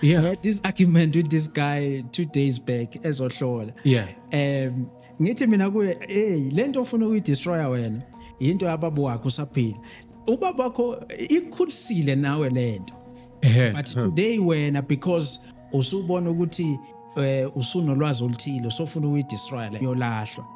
yeah. I had this argument with this guy two days back ezohlola yeah um ngithi mina kuye hey lento ofuna ukuyi destroyer wena into yababa wakho usaphila ubaba wakho ikhulisile nawe lento but today wena because usubona ukuthi eh usunolwazi oluthile sofuna ukuyidestroy le yolahlwa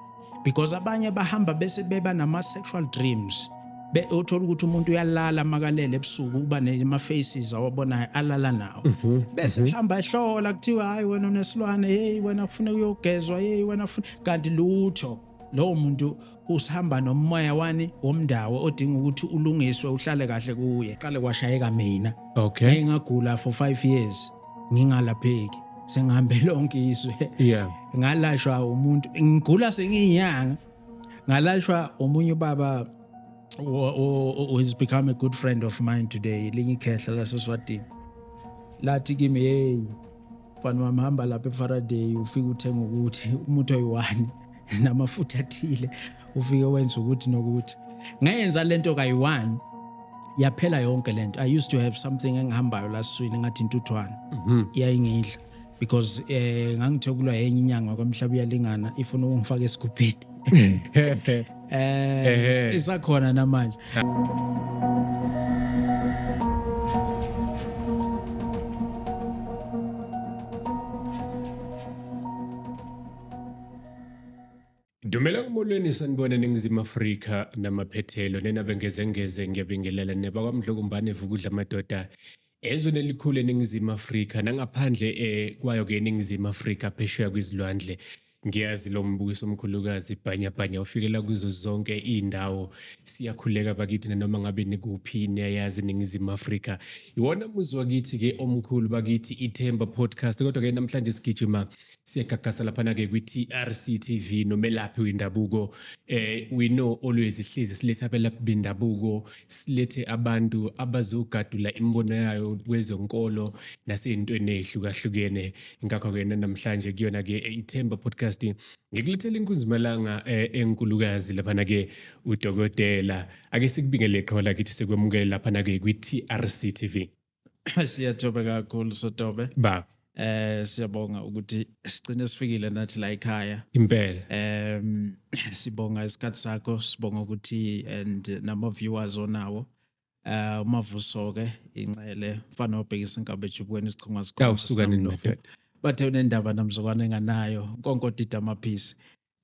because abanye bahamba bese beba nama sexual dreams be uthola ukuthi umuntu uyalala makalele ebusuku uba nema faces awabonayo alala nawo mhm, bese mhm. hamba ehlola kuthiwa hayi wena unesilwane hey wena kufuna uyogezwa hey wena kufuna kanti lutho lowo muntu usihamba nomoya wani womndawo odinga ukuthi ulungiswe uhlale kahle kuye qale kwashayeka mina okay ngingagula for 5 years ngingalapheki sengihambe lonke izwe yeah ngalashwa umuntu ngigula sengiyinyanga ngalashwa omunye ubaba who has become a good friend of mine today linye ikhehla laseswatini lathi kimi hey mfana wami hamba lapha efaraday ufike uthenga ukuthi umuthi oyi-one namafutha athile ufike wenza ukuthi nokuthi ngayenza lento kayi-one yaphela yonke lento i used to have something engihambayo laswini ngathi intuthwane mhm. yayingidla because eh ngangithokulwa yenye inyanga kwamhlaba uyalingana ifuna ukungifaka esigubhini eh isakhona namanje Dumelang molweni sanibona eNingizimu Afrika namaphethelo nenabengezengeze ngiyabingelela nebakwaMdlokombane evukudla amadoda ezweni elikhulu eNingizimu Afrika nangaphandle eh, kwayo ke eNingizimu Afrika phesheya kwizilwandle ngiyazi lo mbukiso omkhulukazi bhanyabhanya ufikela kuzo zonke iy'ndawo siyakhuleka bakithi nanoma ngabe nikuphi niyayazi iningizimu afrika iwona muzi wakithi-ke omkhulu bakithi ithemba podcast kodwa-ke namhlanje sigijima siyagagasa laphana-ke kwi-trc tv nomelaphi wendabuko eh we know always sihlezi silethe abelaphi bendabuko silethe abantu abazogadula imibono yayo kwezonkolo nasey'ntweni ey'hlukahlukene ngakho-ke nanamhlanje kuyona-ke eh, ithemba podcast ngikulethela inkunzimalanga eh, enkulukazi laphana-ke udokotela ake sikubingele qhola kithi sikwemukele laphana-ke kwi-trc tv siyathoba kakhulu sotobe baba eh siyabonga ukuthi sigcine sifikile nathi la ekhaya impela em sibonga isikhatsi sakho sibonga ukuthi and nama viewers onawo eh umavuso ke inxele mfana obhekisa inkabe ejubukweni isichonga sikhona awusuka nini madoda bathe unendaba namzokwane enganayo nkonkodida amaphisi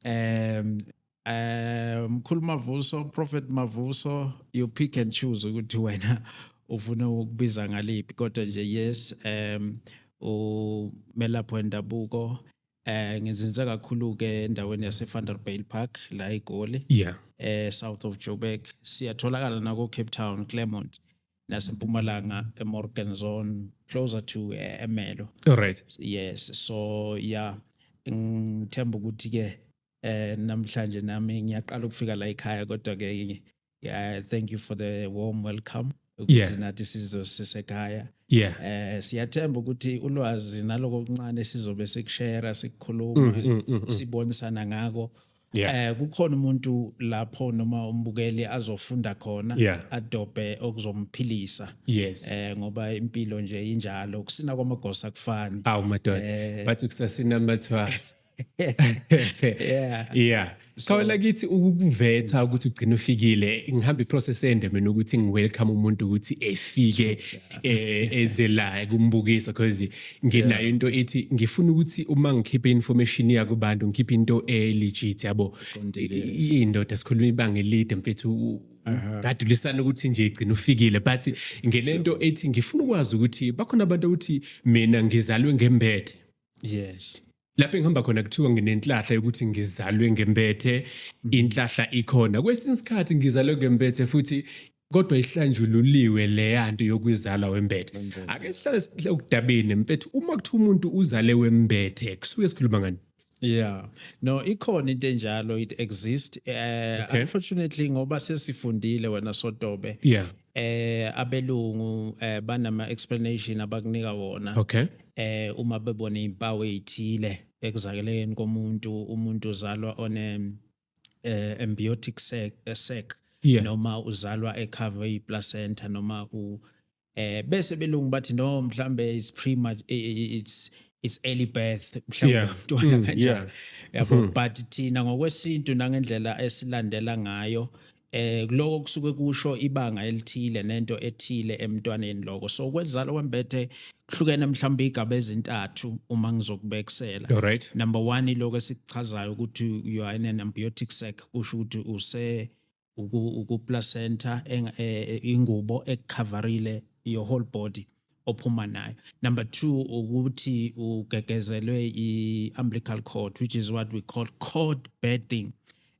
um eh, mkhulu mavuso prophet mavuso you pick and choose ukuthi wena ufuna ukubiza ngaliphi kodwa nje yes um umelaphi wendabuko eh ngizinze kakhulu ke endaweni yase Vanderbijl Park la eGoli yeah eh south of Joburg siyatholakala nako Cape Town Claremont nasempumalanga emorgan zone closer to uh, emelo right yes so yeah ngithemba ukuthi ke eh namhlanje nami ngiyaqala ukufika la ekhaya kodwa ke yeah thank you for the warm welcome ukuthi nathi sizosisekhaya yeah eh siyathemba ukuthi ulwazi naloko kuncane sizobe sikushare sikukhuluma mm, mm, mm, sibonisana ngako yeah. eh kukhona umuntu lapho noma umbukeli azofunda khona yeah. adobhe okuzomphilisa yes. eh ngoba impilo nje injalo ukusina kwamagosa kufani awu madoda eh, bathi kusasina amathwasa yeah yeah khona kithi ukukuvetha ukuthi ugcina ufikile ngihamba iprocess ende mina ukuthi ngiwelcome umuntu ukuthi efike eh, eze la kumbukiso because nginayo into ethi ngifuna ukuthi uma ngikhiphe information yakubantu ngikhiphe into elegit yabo indoda sikhuluma ibanga elide mfethu ngadulisana ukuthi nje igcina ufikile but ngenento ethi ngifuna ukwazi ukuthi bakhona abantu ukuthi mina ngizalwe ngembethe yes lapho engihamba khona kuthiwa nginenhlahla yokuthi ngizalwe ngempethe mm. inhlahla ikhona kwesinye isikhathi ngizalwe ngempethe futhi kodwa ihlanjululiwe leyanto yokuzalwa wembethe ake sihlale sihle ukudabeni mfethu uma kuthi umuntu uzale wembethe kusuke sikhuluma ngani yeah no ikhona into enjalo it exist uh, okay. unfortunately ngoba sesifundile wena sotobe yeah eh abelungu eh banama explanation abakunika wona okay eh uma bebona impawu ezithile ekuzakeleni komuntu umuntu uzalwa one eh embiotic sac sac yeah. noma uzalwa ecover iplacenta noma u eh bese belungu bathi no mhlambe is premature it's it's early birth mhlawumbe Yeah. umntwana Mm, kanjalo yeah. yabo Mhm. but thina ngokwesintu nangendlela esilandela ngayo eh kuloko kusuke kusho ibanga elithile nento ethile emntwaneni lokho so kwezalo wembethe kuhlukene mhlawumbe igaba ezintathu uma ngizokubekisela right number 1 iloko esikuchazayo ukuthi you are in an ambiotic sac kusho ukuthi use uku placenta eh, ingubo ekucoverile your whole body ophuma nayo number 2 ukuthi ugegezelwe iumbilical cord which is what we call cord betting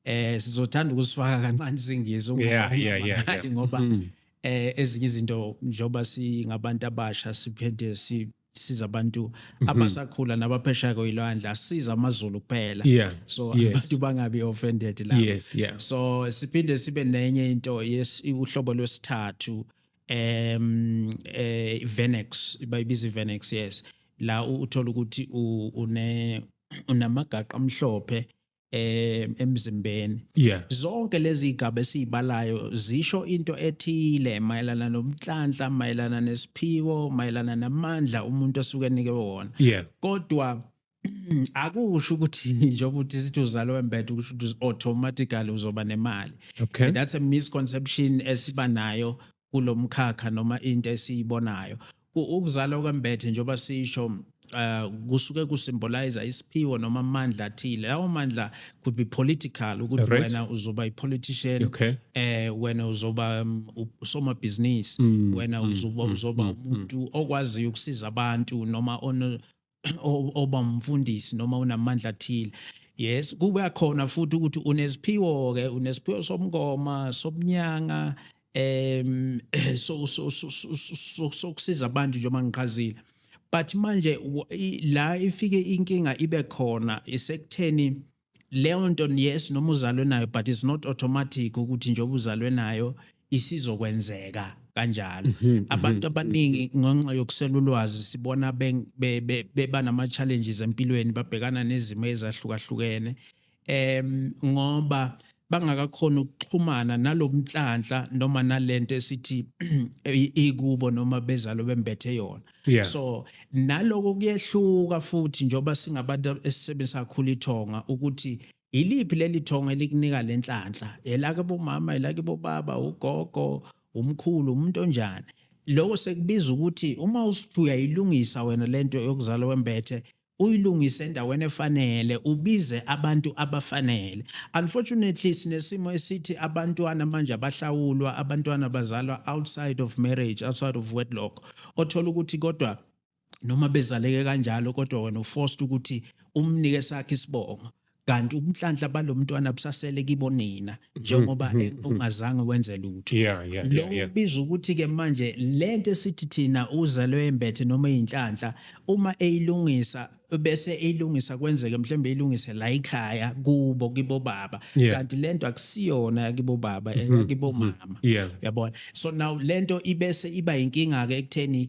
eh sizothanda ukusifaka kancane isingisi ungathi ngoba hmm. eh ezinye izinto njoba singabantu abasha siphende si siza abantu mhm. abasakhula nabaphesha koyilwandle asiza amazulu kuphela yeah. so yes. abantu bangabi offended la yes, yeah. so siphinde sibe nenye into yes uhlobo lwesithathu um eh Venex bayibiza Venex yes la u- uthola ukuthi u- une unamagaqa amhlophe em emzimbeni yeah zonke lezi igaba esizibalayo zisho into ethile mayelana nomhlanhla mayelana nesiphiwo mayelana namandla umuntu osuke enike wona yeah kodwa akusho ukuthi njengoba uthi sithi uzalwa wembethe ukusho ukuthi automatically uzoba nemali okay. And that's a misconception esiba nayo kulomkhakha noma into esiyibonayo ukuzalwa kwembethe njengoba sisho uh, kusuke kusymbolize isiphiwo noma amandla athile lawo mandla could be political ukuthi right. wena uzoba ipolitician okay. eh wena uzoba um, usomabhizinisi mm, wena mm, uzoba mm, uzoba mm, mm. umuntu mm, okwaziyo ukusiza abantu noma oba mfundisi noma unamandla athile yes kuba khona futhi ukuthi unesiphiwo ke unesiphiwo somngoma sobunyanga em so so sokusiza abantu njengoba ngiqhazile but manje la ifike inkinga ibe khona isekutheni leyo nto yes noma uzalwe nayo but it's not automatic ukuthi njengoba uzalwe nayo isizokwenzeka kanjalo mhm, mhm. abantu abaningi ngenxa yokusela ulwazi sibona beba nama-challenges empilweni babhekana nezimo ezahlukahlukene um ngoba bangakakhona ukuxhumana nalomnhlanhla noma nalento esithi ikubo noma bezalo bembethe yona yeah. so naloko kuyehluka futhi njengoba singabantu esisebenzisa kakhulu ithonga ukuthi yiliphi leli thonga elikunika le nhlanhla elake bomama elake bobaba ugogo umkhulu umuntu onjani loko sekubiza ukuthi uma usuthi uyayilungisa wena lento yokuzala wembethe uyilungise endaweni efanele ubize abantu abafanele unfortunately sinesimo esithi abantwana manje abahlawulwa abantwana bazalwa outside of marriage outside of wedlock othola ukuthi kodwa noma bezaleke kanjalo kodwa wena uforced ukuthi umnike sakhe isibongo kanti ubunhlanhla balomntwana busasele kibonina mm-hmm. njengoba mm-hmm. ungazange wenze lutho yeah, yeah, lo yeah, ubiza ukuthi ke manje lento esithi thina uzalwe embethe noma inhlanhla uma eyilungisa bese eyilungisa kwenzeke mhlawumbe eyilungise la ekhaya kubo kibo baba kanti lento akusiyona kibo baba mm-hmm. kibo mama yabona so now lento ibese iba inkinga ke ekutheni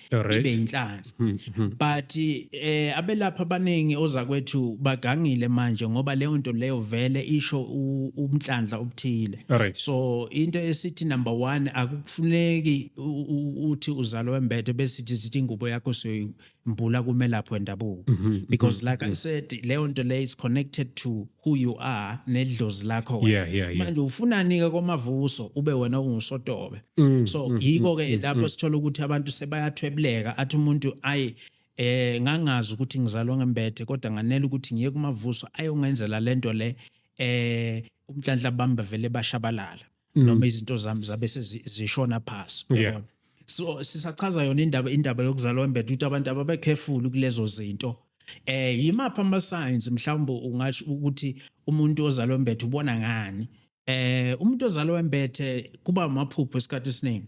ibe inhlanzi hmm, hmm. but eh abelapha abaningi ozakwethu bagangile manje ngoba leyo nto leyo vele isho umhlanhla obuthile so into esithi number 1 akukufuneki uthi uzalo wembethe bese sithi ingubo yakho soyimbula kumelaphi wendabuko mhm, mhm, because like i mhm. said leyo nto leyo is connected to who you are nedlozi lakho wena. Yeah, yeah, yeah. manje ufunani ke komavuso ube wena ungusotobe Mm, so mm, yiko ke mm, mm, lapho mm. sithola ukuthi abantu sebayathwebuleka athi umuntu ayi eh ngangazi ukuthi ngizalwa ngembethe kodwa nganele ukuthi ngiye kumavuso ayongenzela lento le eh umhlanhla bamba vele bashabalala mm. noma izinto zami zabe sezishona phasi yeah. so sisachaza yona indaba indaba yokuzalwa embethe ukuthi abantu ababe careful kulezo zinto eh yimaphi ama signs mhlawumbe ungasho ukuthi umuntu ozalwa embethe ubona ngani eh umuntu ozalwa embethe kuba amaphupho esikhathi esiningi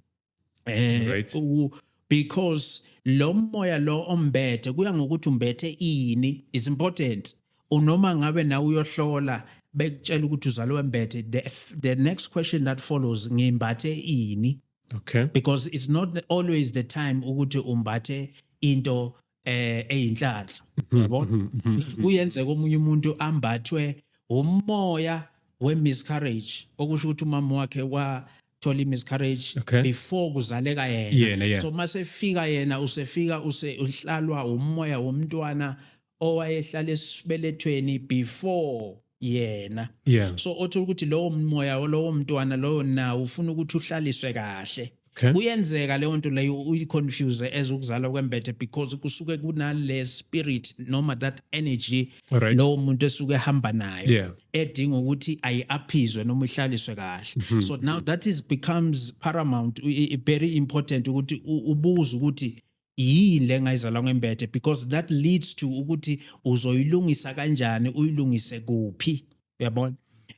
eh Right. u- because lo moya lo ombethe kuya ngokuthi umbethe ini is important unoma ngabe nawe uyohlola bekutshela ukuthi uzalwe wembethe the, f- the next question that follows ngimbathe ini okay because it's not the- always the time ukuthi umbathe into eh eyinhlanhla mhm, yabo mhm, mhm, kuyenzeka omunye umuntu ambathwe umoya we miscarriage okusho ukuthi umama wakhe wa thola i-miscarriage okay. before kuzaleka yena yeah, yeah. so uma sefika yena usefika use uhlalwa umoya womntwana owayehlala esibelethweni before yena yeah. so othola ukuthi lowo moya lowo mntwana lowo nawo ufuna ukuthi uhlaliswe kahle okay. kuyenzeka leyo nto leyo uyiconfuse as ukuzala kwembethe because kusuke kunale spirit noma that energy right. lowo muntu esuke ehamba nayo yeah. edinga ukuthi ayi-aphizwe noma ihlaliswe kahle mm -hmm. so now that is becomes paramount very important ukuthi ubuze ukuthi yini le ngayizalwa ngembethe because that leads to ukuthi uzoyilungisa kanjani uyilungise kuphi uyabona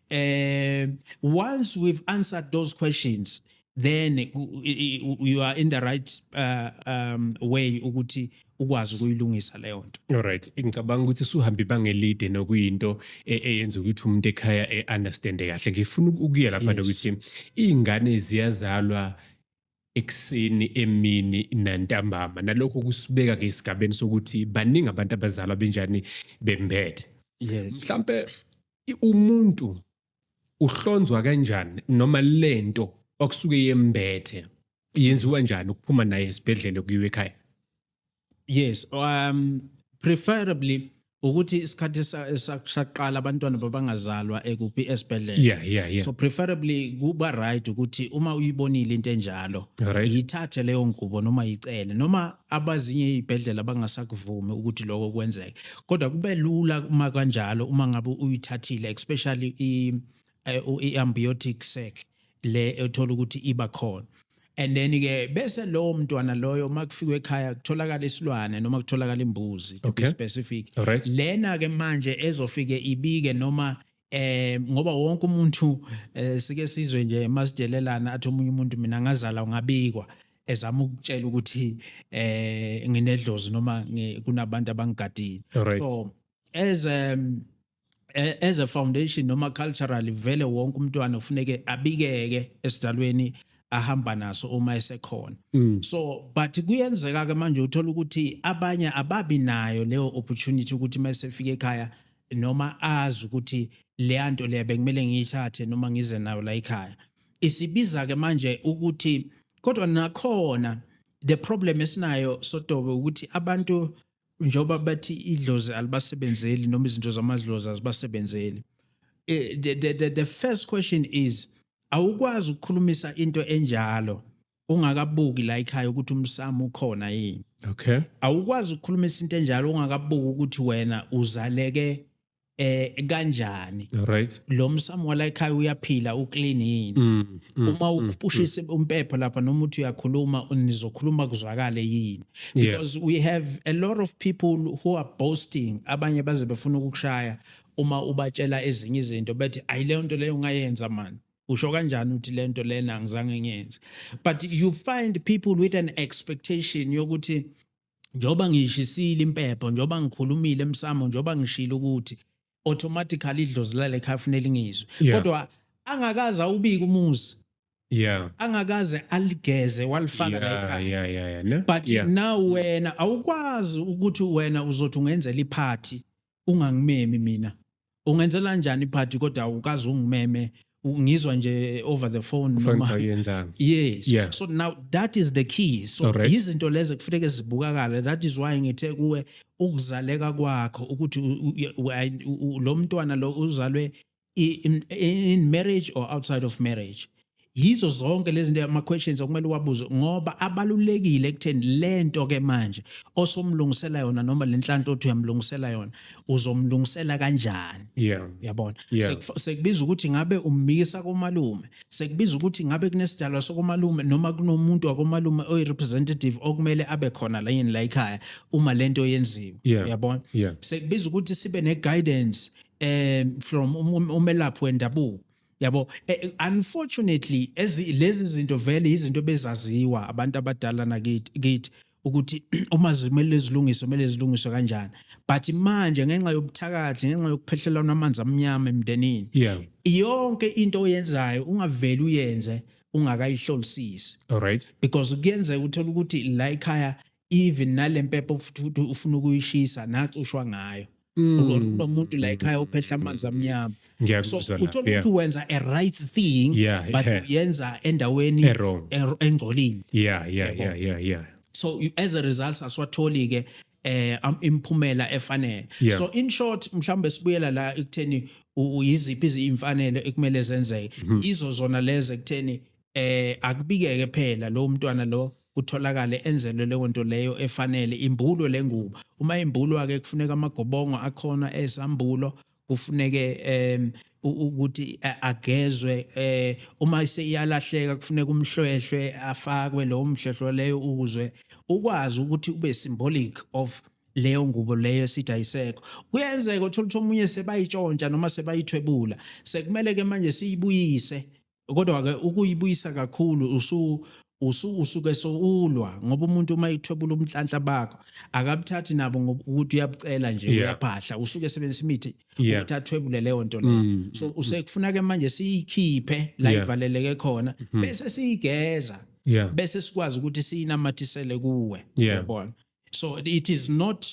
eh once we've answered those questions then you are in the right uh, um, way ukuthi ukwazi ukuyilungisa leyo nto alright ngicabanga ukuthi suhambe ibanga elide nokuyinto e, eyenza ukuthi umuntu ekhaya e-understande kahle ngifuna ukuya lapha nokuthi iy'ngane ziyazalwa ekuseni emini nantambama nalokho kusibeka ke esigabeni sokuthi baningi abantu abazalwa benjani bembethe yes mhlambe umuntu uhlonzwa kanjani noma lento okusuke yembethe yenziwa njani ukuphuma naye esibhedlele kuyiwe ekhaya yes um preferably ukuthi isikhathi saqala abantwana babangazalwa ekuphi esibhedlela yeah, yeah, yeah. so preferably kuba right ukuthi uma uyibonile into enjalo right. yithathe leyo ngubo noma yicele noma abazinye izibhedlela bangasakuvumi ukuthi lokho kwenzeke kodwa kube lula uma kanjalo uma ngabe uyithathile especially i eh, i-ambiotic sac le ethola ukuthi iba khona and then ke bese lowo mntwana loyo uma kufikwe ekhaya kutholakala isilwane noma kutholakala imbuzi to okay. be specific right. lena ke manje ezofike ibike noma eh ngoba wonke umuntu eh, sike sizwe nje masidelelana athi omunye umuntu mina ngazala ungabikwa ezama ukutshela ukuthi eh nginedlozi noma kunabantu abangigadile right. so as um, eh, as a foundation noma culturally vele wonke umntwana ufuneke abikeke esidalweni ahamba naso uma esekhona mm. so but kuyenzeka ke manje uthola ukuthi abanye ababi nayo leyo opportunity ukuthi masefika ekhaya noma azi ukuthi leya nto leya bekumele ngiyithathe noma ngize nayo la ekhaya isibiza ke manje ukuthi kodwa nakhona the problem esinayo sotobe ukuthi abantu njengoba bathi idlozi alibasebenzeli noma izinto zamadlozi azibasebenzeli eh, the, the, the, the first question is awukwazi ukukhulumisa into enjalo ungakabuki la ekhaya ukuthi umsamo ukhona yini okay awukwazi ukukhulumisa into enjalo ungakabuki ukuthi wena uzaleke eh kanjani right lo msamo wala ekhaya uyaphila uclean yini mm, mm, uma mm, ukupushisa mm. umpepho lapha noma uthi uyakhuluma nizokhuluma kuzwakale yini because yeah. we have a lot of people who are boasting abanye baze befuna ukukushaya uma ubatshela ezinye izinto bethi ayileyo nto leyo ungayenza mani usho kanjani uthi lento lena ngizange ngiyenze but you find people with an expectation yokuthi njengoba ngiyishisile impepho njengoba ngikhulumile emsamo njengoba ngishilo ukuthi automatically idlozi lale khaya funela ingizwe yeah. kodwa angakaze awubika umuzi yeah angakaze aligeze walifaka la ekhaya yeah yeah yeah no? but yeah. now wena awukwazi ukuthi wena uzothi ungenzela iphathi ungangimemi mina ungenzela njani iphathi kodwa ukazi ungimeme ngizwa nje over the phone noma yes yeah. so now that is the key so right. izinto lezo kufuneka zibukakala that is why ngithe kuwe ukuzaleka kwakho ukuthi lo mntwana lo uzalwe in, in marriage or outside of marriage yizo zonke lezi zinto ama questions okumele uwabuze ngoba abalulekile ekutheni lento ke manje osomlungisela yona noma lenhlanhla othi uyamlungisela yona uzomlungisela kanjani yeah yabona yeah. sekubiza ukuthi ngabe ummisa komalume sekubiza ukuthi ngabe kunesidalwa sokomalume noma kunomuntu wakomalume oyi representative okumele abe khona la yini la ekhaya uma lento yenziwe yeah. yabona yeah. sekubiza ukuthi sibe ne guidance um from um, um, umelaphi wendabuko yabo eh, eh, unfortunately lezi zinto vele yizinto bezaziwa abantu abadala nakithi kithi ukuthi uma zimele zilungiswe kumele zilungiswe kanjani but manje ngenxa yobuthakathi ngenxa yokuphehlelana amanzi amnyama emndenini yeah. yonke into oyenzayo ungaveli uyenze ungakayihlolisisi alright because kuyenzeka uthola ukuthi la ekhaya even nale mpepho futhi futhi ufuna ukuyishisa nacushwa ngayo kunomuntu la ekhaya ophehla amanzi amnyama so Ngiyakuzwa la, uthola yeah. ukuthi wenza a right thing Yeah, but yeah. uyenza endaweni E-wrong. er- engcolile yeah yeah yeah yeah yeah so you- as a result asiwatholi ke eh am- imphumela efanele Yeah. so in short mhlawumbe sibuyela la ekutheni u- uyiziphi izimfanele ekumele zenzeke Mm-hmm. izo zona lezi ekutheni eh akubikeke phela lo mntwana lo kutholakale enzelwe leyo nto leyo efanele imbulo lengubo uma imbulwa ke kufuneka amagobongo akhona ezambulo kufuneke um ukuthi agezwe eh uma seyalahleka kufuneka umhlwehlwe afakwe lo mhlwehlwe leyo ukuzwe ukwazi ukuthi ube symbolic of leyo ngubo leyo esithi ayisekho kuyenzeka uthola ukuthi omunye sebayitshontsha noma sebayithwebula sekumele ke manje siyibuyise kodwa ke ukuyibuyisa kakhulu usu usu usuke soulwa ngoba umuntu uma ithwebula umhlanhla bakho akabuthathi nabo ngoba ukuthi uyabucela nje Yeah. uyaphahla usuke sebenzisa imithi Yeah. ukuthi athwebule leyo nto leyo Mm. so usekufuna ke manje siyikhiphe la Yeah. ivaleleke khona Mhm. bese siyigeza yeah bese sikwazi ukuthi siyinamathisele kuwe Yeah. yabona so it is not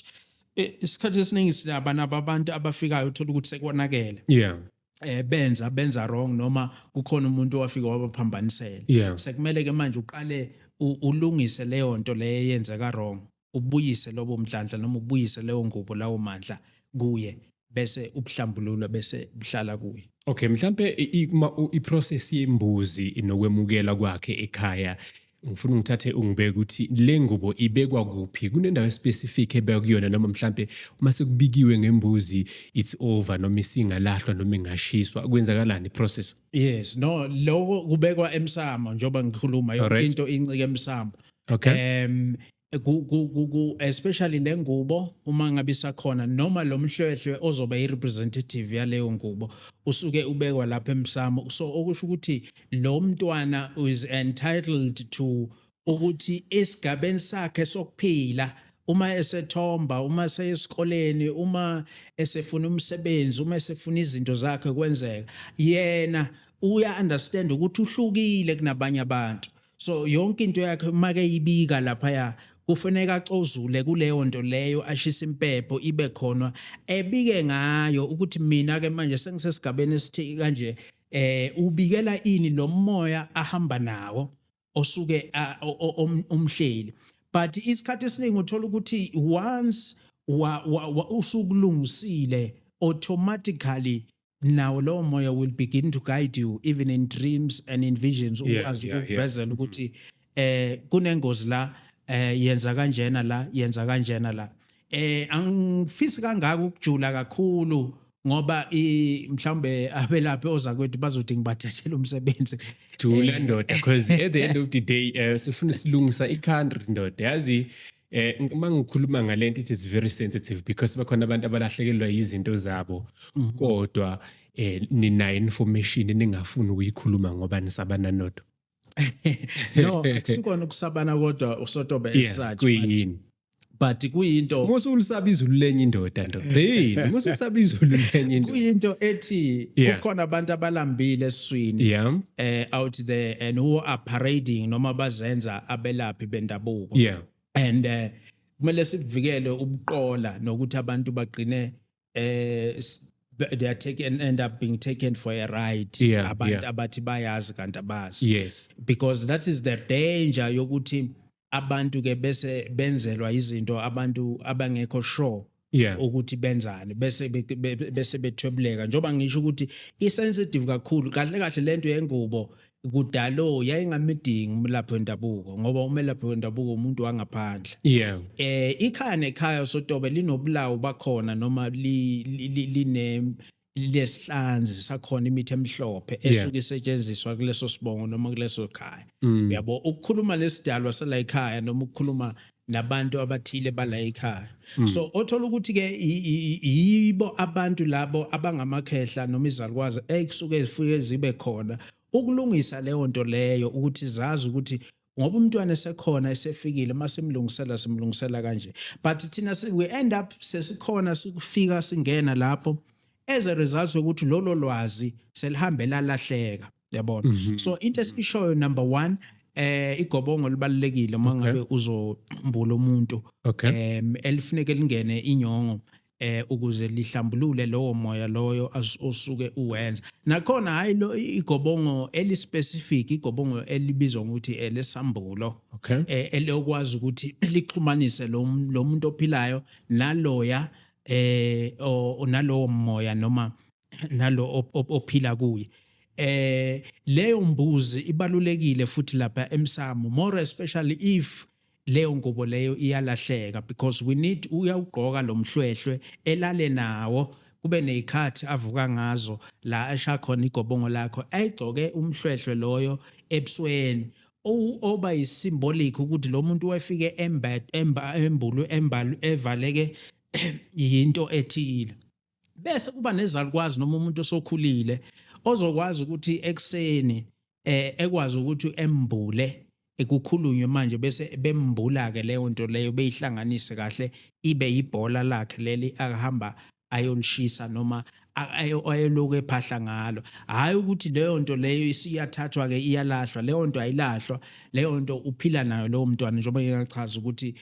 eh, isikhathi esiningi sinabana abantu abafikayo uthola ukuthi sekonakele yeah eh benza benza wrong noma kukhona umuntu owafika wabaphambanisela yeah. sekumele ke manje uqale ulungise leyo nto leyo eyenzeka wrong ubuyise lobo mdlandla noma ubuyise leyo ngubo lawo mandla kuye bese ubuhlambululwa bese buhlala kuye okay mhlambe i-process yembuzi nokwemukela kwakhe ekhaya ngifuna ungithathe ungibeke ukuthi le ngubo ibekwa kuphi kunendawo especific ebekwa kuyona noma mhlampe uma sekubikiwe ngembuzi it's over noma isingalahlwa noma ingashiswa kwenzakalani process yes no lokho kubekwa emsamo njengoba ngikhuluma yonke into incike emsamo okay um especially nengubo uma ngabe isakhona noma lo mhlwehlwe ozoba i-representative yaleyo ngubo usuke ubekwa lapha emsamo so okusho ukuthi lo mntwana is entitled to ukuthi esigabeni sakhe sokuphila uma esethomba uma seyesikoleni uma esefuna umsebenzi uma esefuna izinto zakhe kwenzeka yena uya understand ukuthi uhlukile kunabanye abantu so yonke into yakhe uma keyibika laphaya kufanele acozule kuleyo nto leyo ashisa impepho ibe khona ebike ngayo ukuthi mina ke manje sengisesigabeni esithi kanje eh ubikela ini lo moya ahamba nawo osuke omhleli but isikhathi esiningi uthola ukuthi once usukulungisile automatically nawo lowo moya will begin to guide you even in dreams and in visions ukwazi ukukuvezela ukuthi eh kunengozi la eh yenza kanjena la yenza kanjena la eh angifisi kangaka ukujula kakhulu ngoba mhlawumbe abelaphi oza kwethu bazothi ngibathathele umsebenzi jula eh, ndoda because at the end of the day eh, sifuna silungisa i-country ndoda yazi Eh uma ngikhuluma ngalento it is very sensitive because bakhona abantu abalahlekelwa yizinto zabo mhm. kodwa eh ninayo information ningafuni ukuyikhuluma ngoba nisabana nodwa. No akusikona ukusabana kodwa usotobe esathe. Kuyini? but kuyinto musa ulisaba izulu lenye indoda ndoda yini musa ulisaba izulu lenye indoda kuyinto ethi kukhona abantu abalambile eswini eh out there and who are parading noma bazenza abelaphi bendabuko yeah and uh, kumele sikuvikele ubuqola nokuthi abantu bagcine eh they are taken end up being taken for a ride yeah, abantu yeah. abathi bayazi kanti abazi yes because that is the danger yokuthi abantu ke bese benzelwa izinto abantu abangekho sure yeah ukuthi benzani bese bese bethwebuleka njoba ngisho ukuthi i sensitive kakhulu kahle kahle lento yengubo kudalo yayingamidingi umlaphi wendabuko ngoba umelaphi wendabuko umuntu wangaphandle yeah eh ikhaya nekhaya sotobe linobulawu bakhona noma line lesihlanzi sakhona imithi emhlophe esuke isetshenziswa kuleso sibongo noma kuleso khaya mm. uyabo ukukhuluma lesidalwa sala ekhaya noma ukukhuluma nabantu abathile bala ekhaya mm. so othola ukuthi ke yibo abantu labo abangamakhehla noma izalukwazi ekusuke zifike zibe khona ukulungisa leyo nto leyo ukuthi zazi ukuthi ngoba umntwana esekhona esefikile uma simlungisela simlungisela kanje but thina we end up sesikhona sikufika singena lapho as a result yokuthi lolo lwazi selihambe lalahleka yabona mhm. so into esishoyo number 1 eh igobongo libalekile uma ngabe uzombula umuntu em elifuneke lingene inyongo eh ukuze lihlambulule lowo moya loyo osuke uwenza nakhona hayi lo igobongo eli specific igobongo elibizwa ngokuthi elesambulo okay. eh elokwazi ukuthi lixhumanise lo muntu ophilayo naloya eh onalowo moya noma nalo ophila kuye eh leyo mbuzi ibalulekile futhi lapha emsamo more especially if leyo ngubo leyo iyalahleka because we need uyawugqoka lo mhlwehlwe elale nawo kube nezikhathi avuka ngazo la esha khona igobongo lakho ayigcoke umhlwehlwe loyo ebusweni oba yisymbolic ukuthi lo muntu wefike embulu embalu evaleke yinto ethile bese kuba nezalukwazi noma umuntu osokhulile ozokwazi ukuthi ekuseni eh ekwazi ukuthi embule ekukhulunywe manje bese bembula ke leyo nto leyo beyihlanganise kahle ibe ibhola lakhe leli akahamba ayolishisa noma ayeloku ephahla ngalo hhayi ukuthi leyo nto leyo isiyathathwa-ke iyalahlwa leyo nto ayilahlwa leyo nto uphila nayo lowo mntwana njengoba ngingachaza ukuthi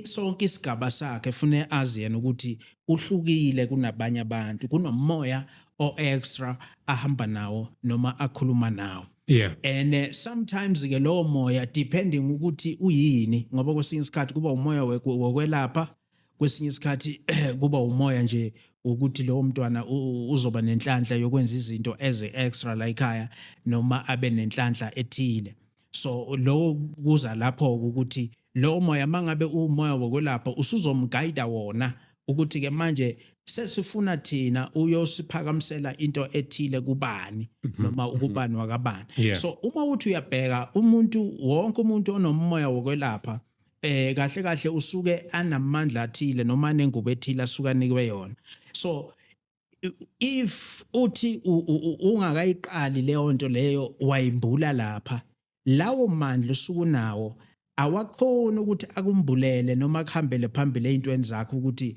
sonke isigaba sakhe fune azi yena ukuthi uhlukile kunabanye abantu kunomoya o-extra ahamba nawo noma akhuluma nawo yeah and uh, sometimes ke lowo moya depending ukuthi uyini ngoba kwesinye isikhathi kuba umoya wokwelapha kwesinye isikhathi kuba umoya nje ukuthi lowo mntwana uzoba nenhlanhla yokwenza izinto as extra la ekhaya noma abe nenhlanhla ethile so lowo kuza lapho ukuthi lowo moya mangabe uwumoya wokwelapha usuzomguide wona ukuthi ke manje sesifuna thina uyosiphakamisela into ethile kubani mhm. noma mhm. ukubani wakabani yeah. so uma uthi uyabheka umuntu wonke umuntu onomoya wokwelapha eh kahle kahle usuke anamandla athile noma nengubo ethile asuka nikwe yona so if uthi ungakayiqali leyo nto leyo wayimbula lapha lawo mandla usukunawo awakhoni ukuthi akumbulele noma akuhambele phambili ezintweni zakho ukuthi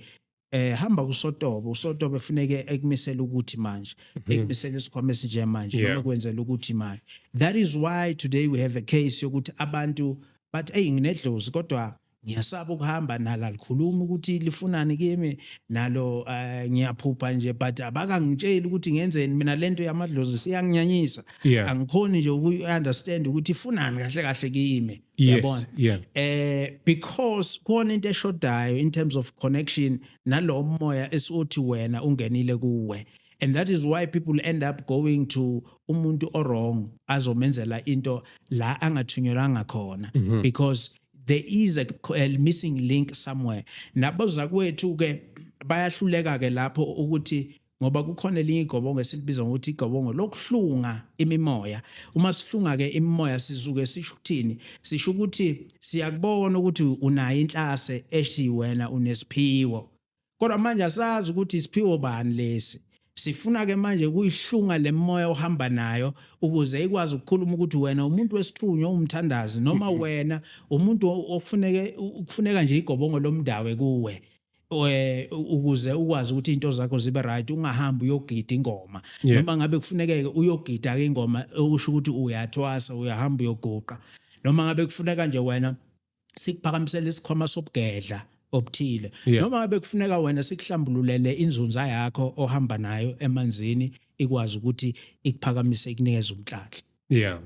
eh hamba kusotobe usotobe funeke ekumisela ukuthi manje mhm. ekumisela isikhwama esinje manje noma kwenzela ukuthi manje that is why today we have a case yokuthi abantu but hey nginedlozi kodwa ngiyasaba ukuhamba nalo alikhulumi ukuthi lifunani kimi nalo uh, ngiyaphupha nje but abakangitsheli ukuthi ngenzeni mina lento yamadlozi siyanginyanyisa yeah. angikhoni nje uku-understand ukuthi ifunani kahle kahle kimi yabona yes, yeah. eh because khona into eshodayo in terms of connection nalowo moya esiwothi wena ungenile kuwe and that is why people end up going to umuntu owrong azomenzela into la angathunyelwanga khona mm -hmm. because there is a, a missing link somewhere nabozakwethu ke bayahluleka ke lapho ukuthi ngoba kukhona elinye igobongo esilibiza ngokuthi igobongo lokuhlunga imimoya uma sihlunga ke imimoya sizuke sisho ukuthini sisho ukuthi siyakubona ukuthi unayo inhlase ethi wena unesiphiwo kodwa manje asazi ukuthi isiphiwo bani lesi sifuna ke manje kuyihlunga lemoya ohamba nayo ukuze ikwazi ukukhuluma ukuthi wena umuntu wesithunywa umthandazi noma mm-hmm. wena umuntu okufuneke kufuneka nje igobongo lomndawe kuwe eh ukuze ukwazi ukuthi into zakho zibe right ungahamba uyogida ingoma noma ngabe kufunekeke uyogida ke ingoma okusho ukuthi uyathwasa uyahamba uyoguqa noma ngabe kufuneka nje wena sikuphakamisela isikhwama sobugedla obuthile yeah. noma ngabe kufuneka wena sikuhlambululele inzunza yakho ohamba nayo emanzini ikwazi ukuthi ikuphakamise ikunikeze umtlatla yeah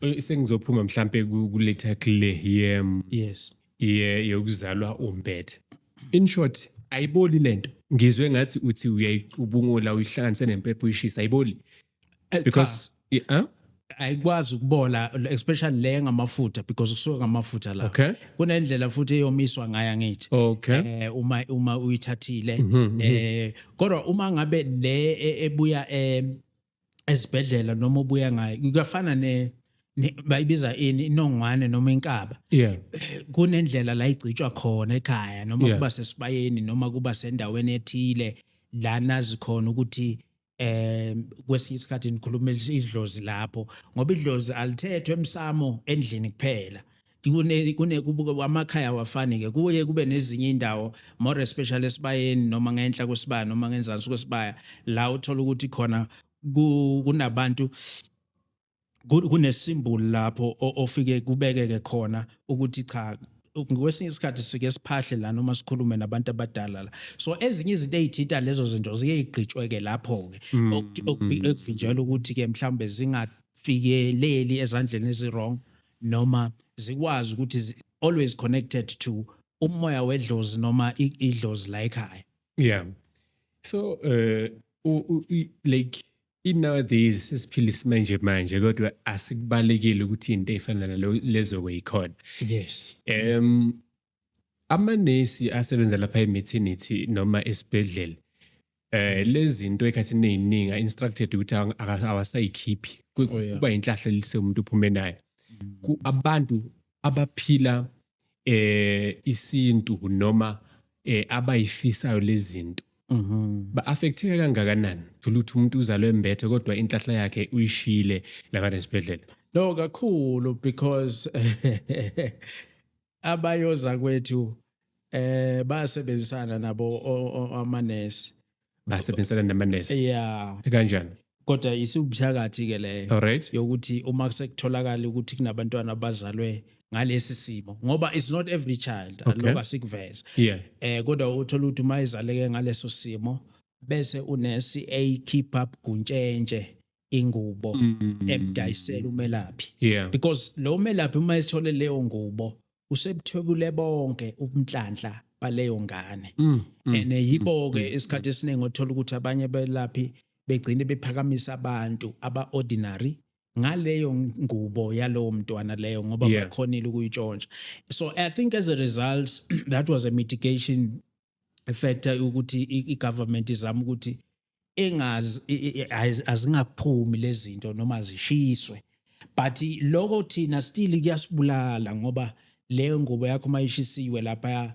eh, sengizophuma mhlambe kuletha kule yem yes ye yokuzalwa umbethe in short ayiboli lento ngizwe ngathi uthi uyayicubungula uyihlanganise nempepho uyishisa ayiboli Eh, because yeah, huh? ayikwazi ukubola especially le ngamafutha because kusuka ngamafutha la okay. kunendlela futhi eyomiswa ngaya ngithi okay. eh, uma uma uyithathile mm -hmm, eh kodwa uma ngabe le e, ebuya eh, esibhedlela noma ubuya ngayo kuyafana ne bayibiza ini inongwane noma inkaba yeah kunendlela la igcitshwa khona ekhaya noma yeah. kuba sesibayeni noma kuba sendaweni ethile la nazi khona ukuthi eh kwesinye isikhathi nikhuluma idlozi lapho ngoba idlozi alithethwe emsamo endlini kuphela kune kune kubuka amakhaya wafani ke kuye kube nezinye indawo more especially esibayeni noma ngenhla kwesibaya noma ngenzansi kwesibaya la uthola ukuthi khona kunabantu kunesimbulu lapho ofike kubekeke khona ukuthi cha ngokwesinye isikhathi sifike siphahle la noma sikhulume nabantu abadala la so ezinye izinto ezithinta lezo zinto ziye igqitshweke lapho ke mm, mm. okuvinjelwa ukuthi ke mhlawumbe zingafikeleli ezandleni ezirong noma zikwazi ukuthi always connected to umoya wedlozi noma idlozi la ekhaya yeah so uh like I-nowadays sesiphila isimanje manje kodwa asikubalekile ukuthi into efana nalo lezo kuyikhona yes em amanesi asebenza lapha e-maternity noma esibhedlela eh lezinto ekhathini eziningi instructed ukuthi awasayikhiphi oh, kuba inhlahla lise umuntu uphume nayo mm. abantu abaphila eh isintu noma eh abayifisayo lezinto Mhm. ba affecteka kangakanani thola ukuthi umuntu uzalwe embethe kodwa inhlahla yakhe uyishile lakade esibhedlela No kakhulu because abayoza kwethu eh basebenzisana nabo o- o- amanesi basebenzisana namanesi yeah kanjani kodwa isiwubuthakathi ke leyo alright yokuthi uma sekutholakala ukuthi kunabantwana abazalwe ngalesi simo ngoba it's not every child Okay. aloba sikuveze yeah eh kodwa uthola ukuthi uma izaleke ngaleso simo bese unesi ayikhipha buguntshentshe ingubo mm. emdayisela umelaphi yeah. because lo melaphi uma esithole leyo ngubo usebuthwebule bonke ubunhlanhla baleyo ngane mm. mm. and eh, yibo ke mm. isikhathi esiningi othola ukuthi abanye belaphi begcine bephakamisa abantu aba ordinary ngaleyo ngubo yalowo mntwana leyo ngoba yeah. bakhonile ukuyitshontsha so i think as a result that was a mitigation factor ukuthi i-government izama ukuthi engazi azingaphumi lezinto noma zishiswe but lokho thina still kuyasibulala ngoba leyo ngubo yakho mayishisiwe lapha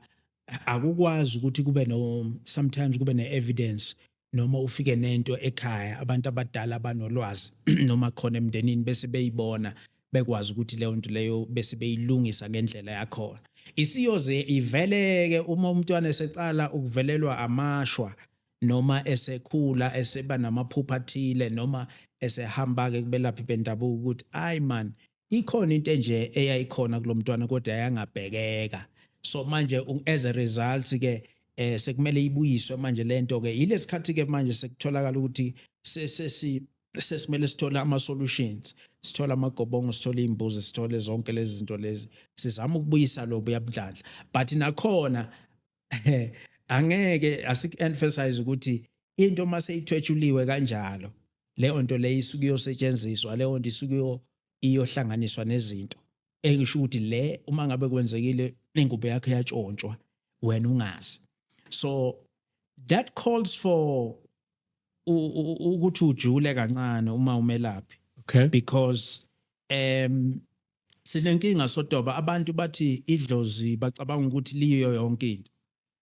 akukwazi ukuthi kube no sometimes kube ne evidence noma ufike nento ekhaya abantu abadala banolwazi noma khona emndenini bese beyibona bekwazi ukuthi leyo nto leyo bese beyilungisa ngendlela yakhona isiyoze iveleke uma umntwana eseqala ukuvelelwa amashwa noma esekhula eseba namaphupha athile noma esehamba-ke kubelaphi bendabuko ukuthi ayi man ikhona into enje eyayikhona kulo mntwana kodwa yayangabhekeka so manje as a result ke eh sekumele ibuyiswe manje lento ke yilesikhathi ke manje sekutholakala ukuthi sesi sesimele sithole ama solutions sithola amagobongo sithola imbuzi sithole zonke lezi zinto lezi sizama ukubuyisa lobu yabudladla but nakhona angeke asik-emphasize ukuthi into uma seyithwetshuliwe kanjalo leyo nto leyo isuke iyosetshenziswa leyo nto isuke iyohlanganiswa nezinto engisho ukuthi le uma ngabe kwenzekile ingubo yakhe yatshontshwa wena ungazi so that calls for ukuthi ujule kancane uma umelaphi okay because um Sinenkinga sotoba abantu bathi idlozi bacabanga ukuthi liyo yonke into.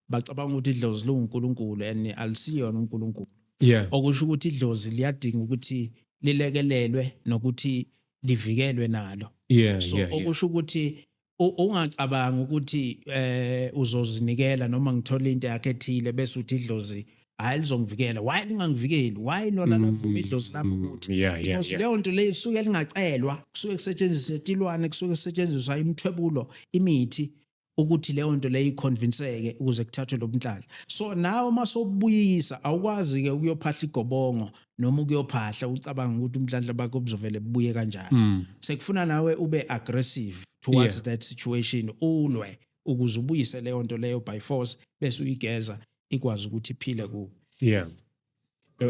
Bacabanga ukuthi idlozi liwuNkulunkulu and alisiyona uNkulunkulu. Yeah. Okusho ukuthi idlozi liyadinga ukuthi lilekelelwe nokuthi livikelwe nalo. Yeah, so yeah, okusho ukuthi ungacabanga ukuthi eh uzozinikela noma ngithola into yakhe ethile bese uthi idlozi hayi lizongivikela why lingangivikeli why lona mm, lavuma idlozi lami mm, ukuthi because leyo nto leyo isuke lingacelwa kusuke kusetshenziswa itilwane kusuke kusetshenziswa imithwebulo imithi ukuthi leyo nto leyo iconvinceke ukuze kuthathwe lobunhlahla so nawe uma sobuyisa awukwazi ke ukuyophahla igobongo noma ukuyophahla ucabanga ukuthi umdlandla bakho buzovele bubuye kanjani mm. sekufuna nawe ube aggressive towards yeah. that situation ulwe ukuze ubuyise leyo nto leyo by force bese uyigeza ikwazi ukuthi iphile kuwe yeah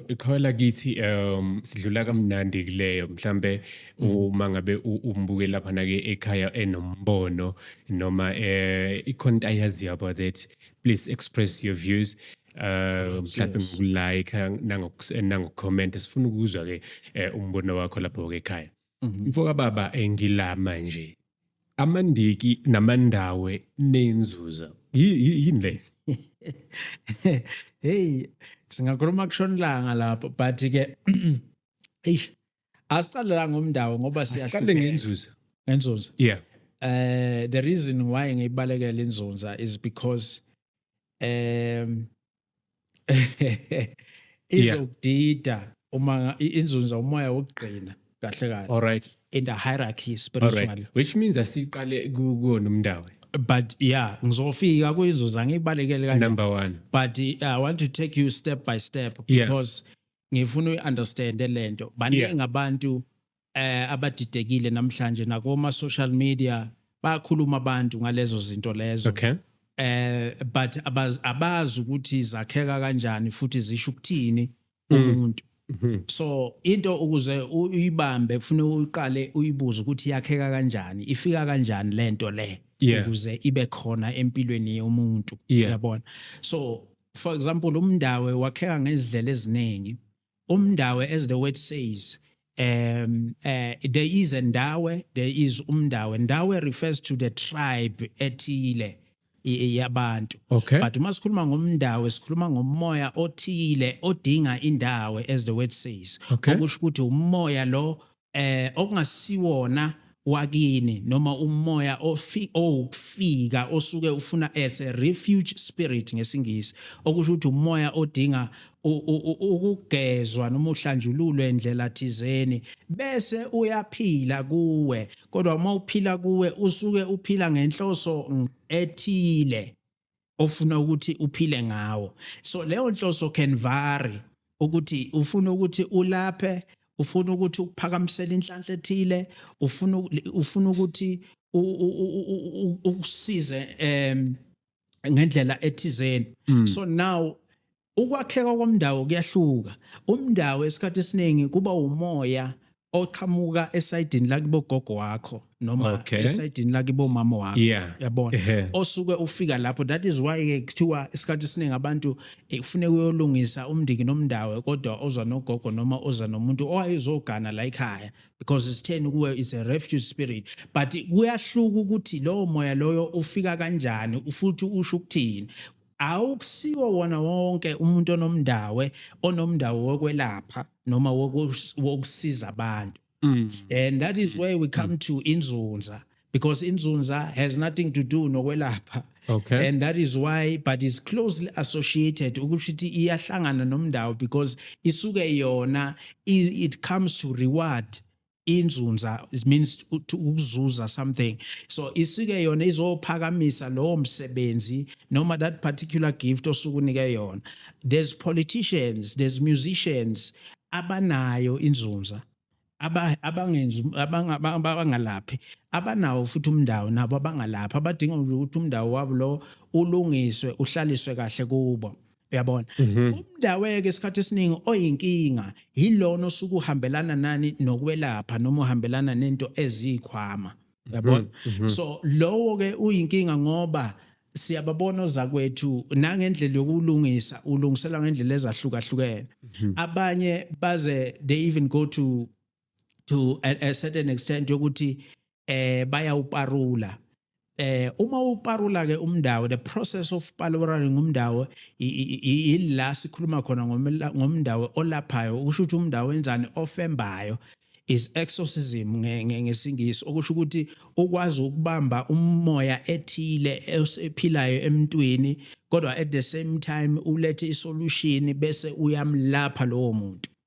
iqhawela kithi um sidlula kamnandi kuleyo mhlambe mm. uma ngabe umbuke lapha nake ekhaya enombono noma eh ikhona into ayazi about that please express your views um mhlawumbe ngokulike nangokucomment sifuna ukuzwa ke eh, umbono wakho lapho ke ekhaya mhm. mfoka baba engilama nje Amandiki namandawe nenzuza. Yini le? Hey, singakhuluma kushona ilanga lapho but ke eish asiqale la ngomndawo ngoba siyaqale ngenzuza. Ngenzuza. Yeah. Uh, the reason why ngiyibalekela inzunza is because um izokudida yeah. uma inzunza umoya wokugqina kahle kahle all right in the hierarchy spiritually right. which means asiqale kuwona umndawe but yeah ngizofika kuyinzuza ngibalekele kanje number 1 but uh, i want to take you step by step because yeah. ngifuna uyiunderstand lento baningi yeah. abantu eh abadidekile namhlanje nakoma social media bayakhuluma abantu ngalezo zinto lezo okay eh but abaz, abazi ukuthi zakheka kanjani futhi zisho ukuthini mm. umuntu mm -hmm. so into ukuze uyibambe ufune uqale uyibuze ukuthi yakheka kanjani ifika kanjani lento le yeah. ukuze ibe khona empilweni yomuntu yeah. uyabona so for example umndawe wakheka ngezidlela eziningi Umndawe as the word says um uh, there is a ndawe there is umndawe ndawe refers to the tribe ethile yabantu okay. but uma sikhuluma ngomndawo sikhuluma ngomoya othile odinga indawo as the word says okay. okusho ukuthi umoya lo eh okungasiwona wakini noma umoya ofi owukufika osuke ufuna as a refuge spirit ngesingisi okusho ukuthi umoya odinga ukugezwa noma uhlanjululwe indlela thizeni bese uyaphila kuwe kodwa uma uphila kuwe usuke uphila ngenhloso ethile ofuna ukuthi uphile ngawo so leyo nhloso can vary ukuthi ufuna ukuthi ulaphe ufuna ukuthi ukuphakamisela inhlanhla ethile ufuna ufuna ukuthi ukusize em ngendlela ethizeni mm. so now Ukwakheka komndawo kuyahluka. Umndawo esikhathi esiningi kuba umoya oqhamuka esayidini lakibo gogo wakho noma okay. esayidini lakibo mama wakho yeah. yabona yeah. osuke ufika lapho that is why ke kuthiwa isikhathi esiningi abantu eh, kufuneka uyolungisa umndiki nomndawe kodwa oza nogogo noma oza nomuntu owayezogana la ekhaya because isitheni kuwe is a refuge spirit but kuyahluka ukuthi lowo moya loyo ufika kanjani futhi usho ukuthini awukusiwo wona wonke umuntu onomndawe onomndawo wokwelapha noma wokusiza abantu mm. and that is where we come mm. to inzunza because inzunza has nothing to do nokwelapha okay. and that is why but is closely associated ukuthi ithi iyahlangana nomndawo because isuke yona it comes to reward inzunza it means ukuzuza something so isike yona izophakamisa lowo msebenzi noma that particular gift osukunike yona there's politicians there's musicians abanayo inzunza abangenzi abangalaphi abanawo futhi umndawo nabo abangalaphi abadinga ukuthi umndawo wabo lo ulungiswe uhlaliswe kahle kubo uyabona mhm. umndaweke isikhathi esiningi oyinkinga yilona osuke uhambelana nani nokwelapha noma uhambelana nento ezikhwama uyabona mhm, mhm. so lowo ke uyinkinga ngoba siyababona ozakwethu nangendlela yokulungisa ulungisela ngendlela ezahlukahlukene abanye baze they even go to to a, a certain extent yokuthi eh bayawuparula eh uma uparula ke umndawo the process of parulating umndawo ila sikhuluma khona ngomndawo olaphayo ukusho ukuthi umndawo enzani ofembayo is exorcism ngesingisi okusho ukuthi ukwazi ukubamba umoya ethile esephilayo emntwini kodwa at the same time ulethe isolution bese uyamlapha lowo muntu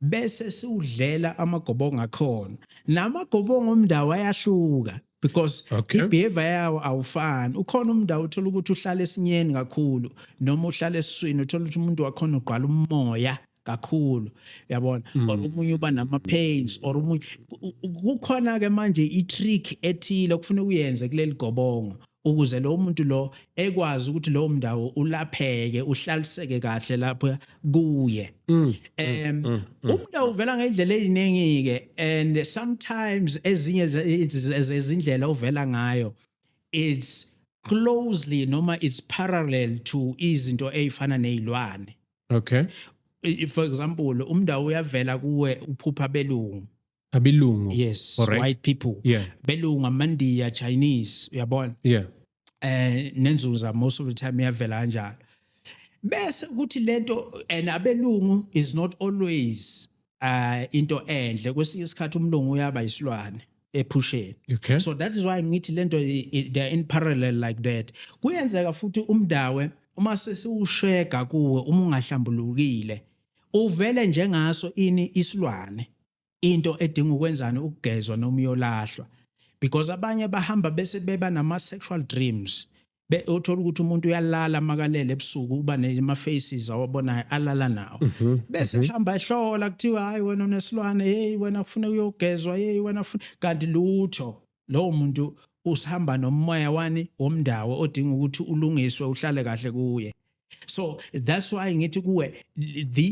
bese siwudlela amagobongo akhona namagobongo omndawo ayahluka because okay. ibehavior yawo awufani ukhona umndawo uthola ukuthi uhlala esinyeni kakhulu noma uhlala esiswini uthola ukuthi umuntu wakhona ugqwala umoya kakhulu yabona mm. or umunye uba nama pains or umunye kukhona ke manje i trick ethile okufuna uyenze kuleli gobongo ukuze lowo muntu lo ekwazi ukuthi lowo mndawo ulapheke uhlaliseke kahle lapho kuye mm, mm, em mm, umuntu uvela ngendlela eziningi ke and sometimes ezinye ezindlela uvela ngayo it's closely noma it's parallel to izinto ezifana nezilwane okay for example umndawo uyavela kuwe uphupha belungu abilungu yes Alright. white people yeah belungu amandiya chinese uyabona yeah eh nenzuza most of the time iyavela kanjalo bese ukuthi lento and abelungu is not always uh into enhle kwesinye isikhathi umlungu uyaba isilwane ephusheni okay so that is why ngithi lento i- i- they are in parallel like that kuyenzeka futhi umdawe uma sesiwushega kuwe uma ungahlambulukile Uvele njengaso ini isilwane. Into edinga ukwenzani ukugezwa noma uyolahlwa. Because abanye bahamba bese beba nama sexual dreams. Be uthola ukuthi umuntu uyalala makalele ebusuku uba nema faces awabonayo alala nawo. Mhm, Bese hamba ehlola kuthiwa hayi wena unesilwane hey wena kufuneka uyogezwa hey wena kufuneka kanti lutho. lowo muntu usihamba nomoya wani womndawo odinga ukuthi ulungiswe uhlale kahle kuye so that's why ngithi kuwe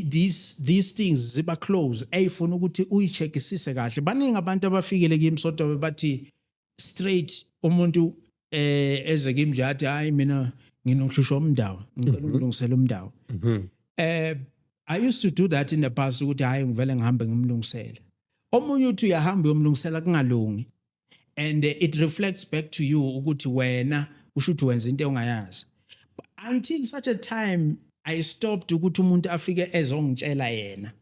these these things ziba close ayifuna ukuthi uyicheckisise kahle baningi abantu abafikile kimi sotobe bathi straight umuntu eh eze kimi nje athi hayi mina nginokuhlushwa umndawo ngicela mhm. ukulungisela umndawo mhm. eh i used to do that in the past ukuthi hayi ngivele ngihambe ngimlungisele omunye uthi uyahamba uyomlungisela kungalungi and it reflects back to you ukuthi wena usho ukuthi wenza into ongayazi until such a time i stopped ukuthi umuntu afike ezongitshela yena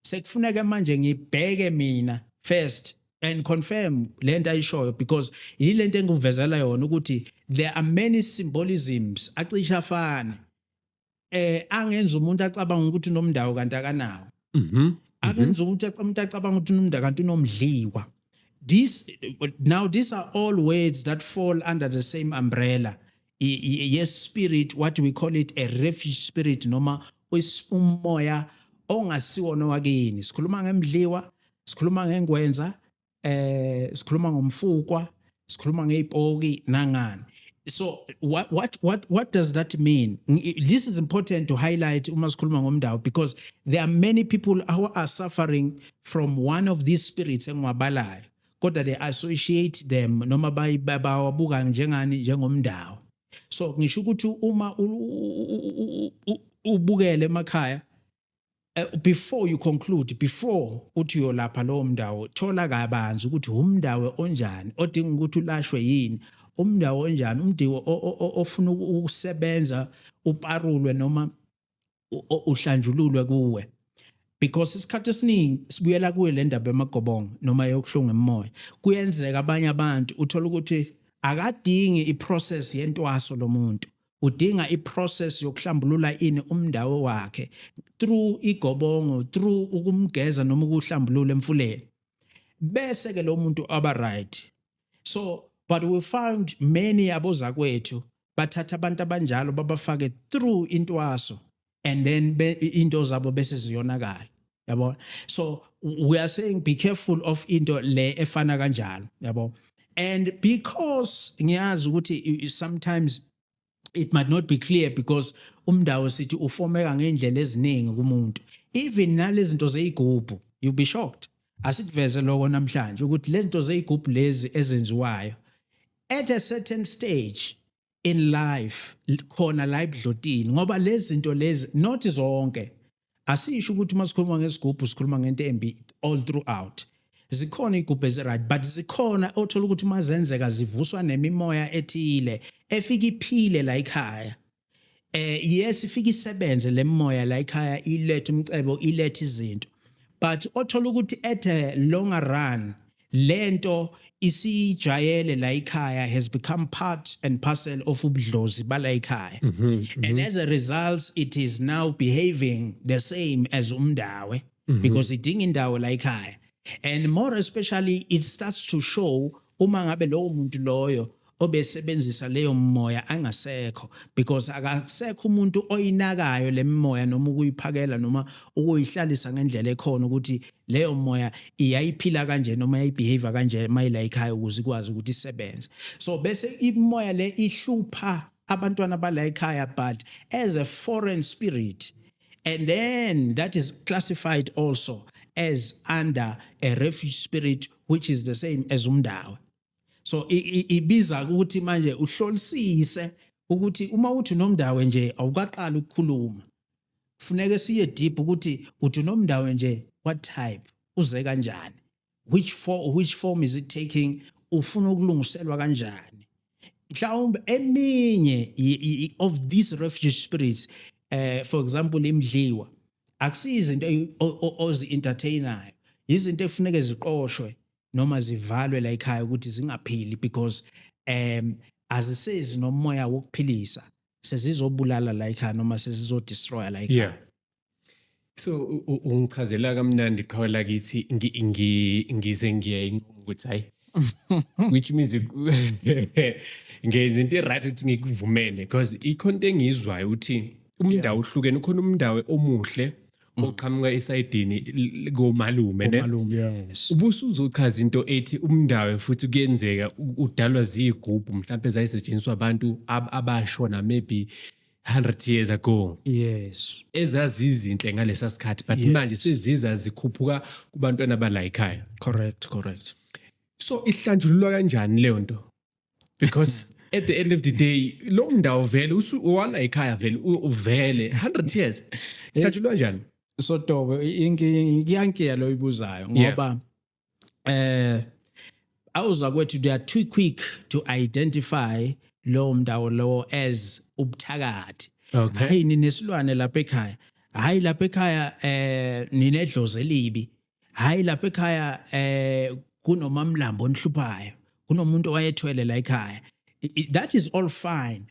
sekufuneka manje ngibheke mina first and confirm lento ayishoyo because yilento engivezela yona ukuthi there are many symbolisms acisha afana eh angenza umuntu acabanga ukuthi unomndawo kanti akanawo mhm akenza ukuthi umuntu acabanga ukuthi unomnda kanti unomdliwa this now these are all words that fall under the same umbrella I- i- yes spirit what we call it a refuge spirit noma is- umoya ongasiwona wakini sikhuluma ngemdliwa sikhuluma ngengwenza eh sikhuluma ngomfukwa sikhuluma ngeypoki nangani so what what what what does that mean this is important to highlight uma sikhuluma ngomndawo because there are many people who are suffering from one of these spirits engiwabalayo kodwa they associate them noma bawabuka njengani njengomndawo so ngisho ukuthi uma ubukele emakhaya Eh, before you conclude before uthi uyolapha lowo mndawo thola kabanzi ukuthi umndawo onjani odinga ukuthi ulashwe yini umndawo onjani umndiwo ofuna ukusebenza uparulwe noma uhlanjululwe kuwe because isikhathi esiningi sibuyela kuyo le ndaba emagobongo noma yokuhlunga emoya kuyenzeka abanye abantu uthola ukuthi akadingi iprocess yentwaso lomuntu udinga iprocess yokuhlambulula ini umndawo wakhe through igobongo through ukumgeza noma ukuhlambulula emfuleni bese ke lo muntu aba right so but we found many abozakwethu bathatha abantu abanjalo babafake through intwaso and then be, into zabo bese ziyonakala yabo so we are saying be careful of into le efana kanjalo yabo and because ngiyazi ukuthi sometimes it might not be clear because umndawo sithi ufomeka ngendlela eziningi kumuntu even nalezinto zeigubhu you be shocked asikuveze lokho namhlanje ukuthi lezinto zeigubhu lezi ezenziwayo at a certain stage in life khona la ebudlotini ngoba lezi zinto lezi not zonke asisho ukuthi uma sikhuluma ngesigubhu sikhuluma ngento embi all throughout zikhona igubhe eziright but zikhona othola ukuthi uma zenzeka zivuswa nemimoya ethile efika iphile la ekhaya eh yes ifika isebenze le moya la ekhaya ilethe umcebo ilethe izinto but othola ukuthi at a longer run lento isijayele la ikhaya has become part and parcel of ubudlozi bala ikhaya mm -hmm, mm -hmm. and as a result it is now behaving the same as umndawe mm -hmm. because idinga indawo la ikhaya and more especially it starts to show uma ngabe lowo muntu loyo obesebenzisa leyo mimoya angasekho because akasekho umuntu oyinakayo le mimoya noma ukuyiphakela noma ukuyihlalisa ngendlela ekhona ukuthi leyo moya iyayiphila kanje noma yayibehavior kanje mayila ekhaya ukuze ikwazi ukuthi isebenze so bese imoya le ihlupha abantwana bala ekhaya but as a foreign spirit and then that is classified also as under a refuge spirit which is the same as umndawe so ibiza ukuthi manje uhlolisise ukuthi uma uthi unomndawe nje awukaqali ukukhuluma kufuneke siye deep ukuthi uthi unomndawe nje what type uze kanjani which for which form is it taking ufuna ukulungiselwa kanjani mhlawumbe eminye of these refugee spirits eh for example imdliwa akusiyizinto ozi entertainayo izinto efuneke ziqoshwe noma zivalwe la ekhaya ukuthi zingaphili because um azisezi nomoya wokuphilisa sezizobulala la ekhaya noma sezizodestroya la ekhaya yeah. so ungichazela kamnandi qhawe lakithi ngize ngiyayinquma ukuthi hayi which means ngenza into right ukuthi ngikuvumele because ikhona into engiyizwayo ukuthi umndawo uhlukene ukhona umndawo omuhle Mm. oqhamuka esayidini l- komalume ne Malume, yes. ubusuzochaza into ethi umndawe futhi kuyenzeka u- udalwa ziyigubhu mhlawumbe zayisetshenziswa abantu ab- abashona maybe 100 years ago Yes. ezazizinhle ngalesa sikhathi but manje seziza zikhuphuka kubantwana balayikhaya Correct, correct. so ihlanjululwa kanjani leyo nto because at the end of the day lo ndawo vele uwala ekhaya vele uvele 100 years hlatshulwa eh, njani so tobo iyankiya lo ibuzayo ngoba eh awuza kwethu they are too quick to identify lowo mndawo lowo as ubuthakathi okay hayi ninesilwane lapha ekhaya hayi lapha ekhaya eh ninedlozi elibi hayi lapha ekhaya eh kunomamlambo onihluphayo kunomuntu owayethwele la ekhaya that is all fine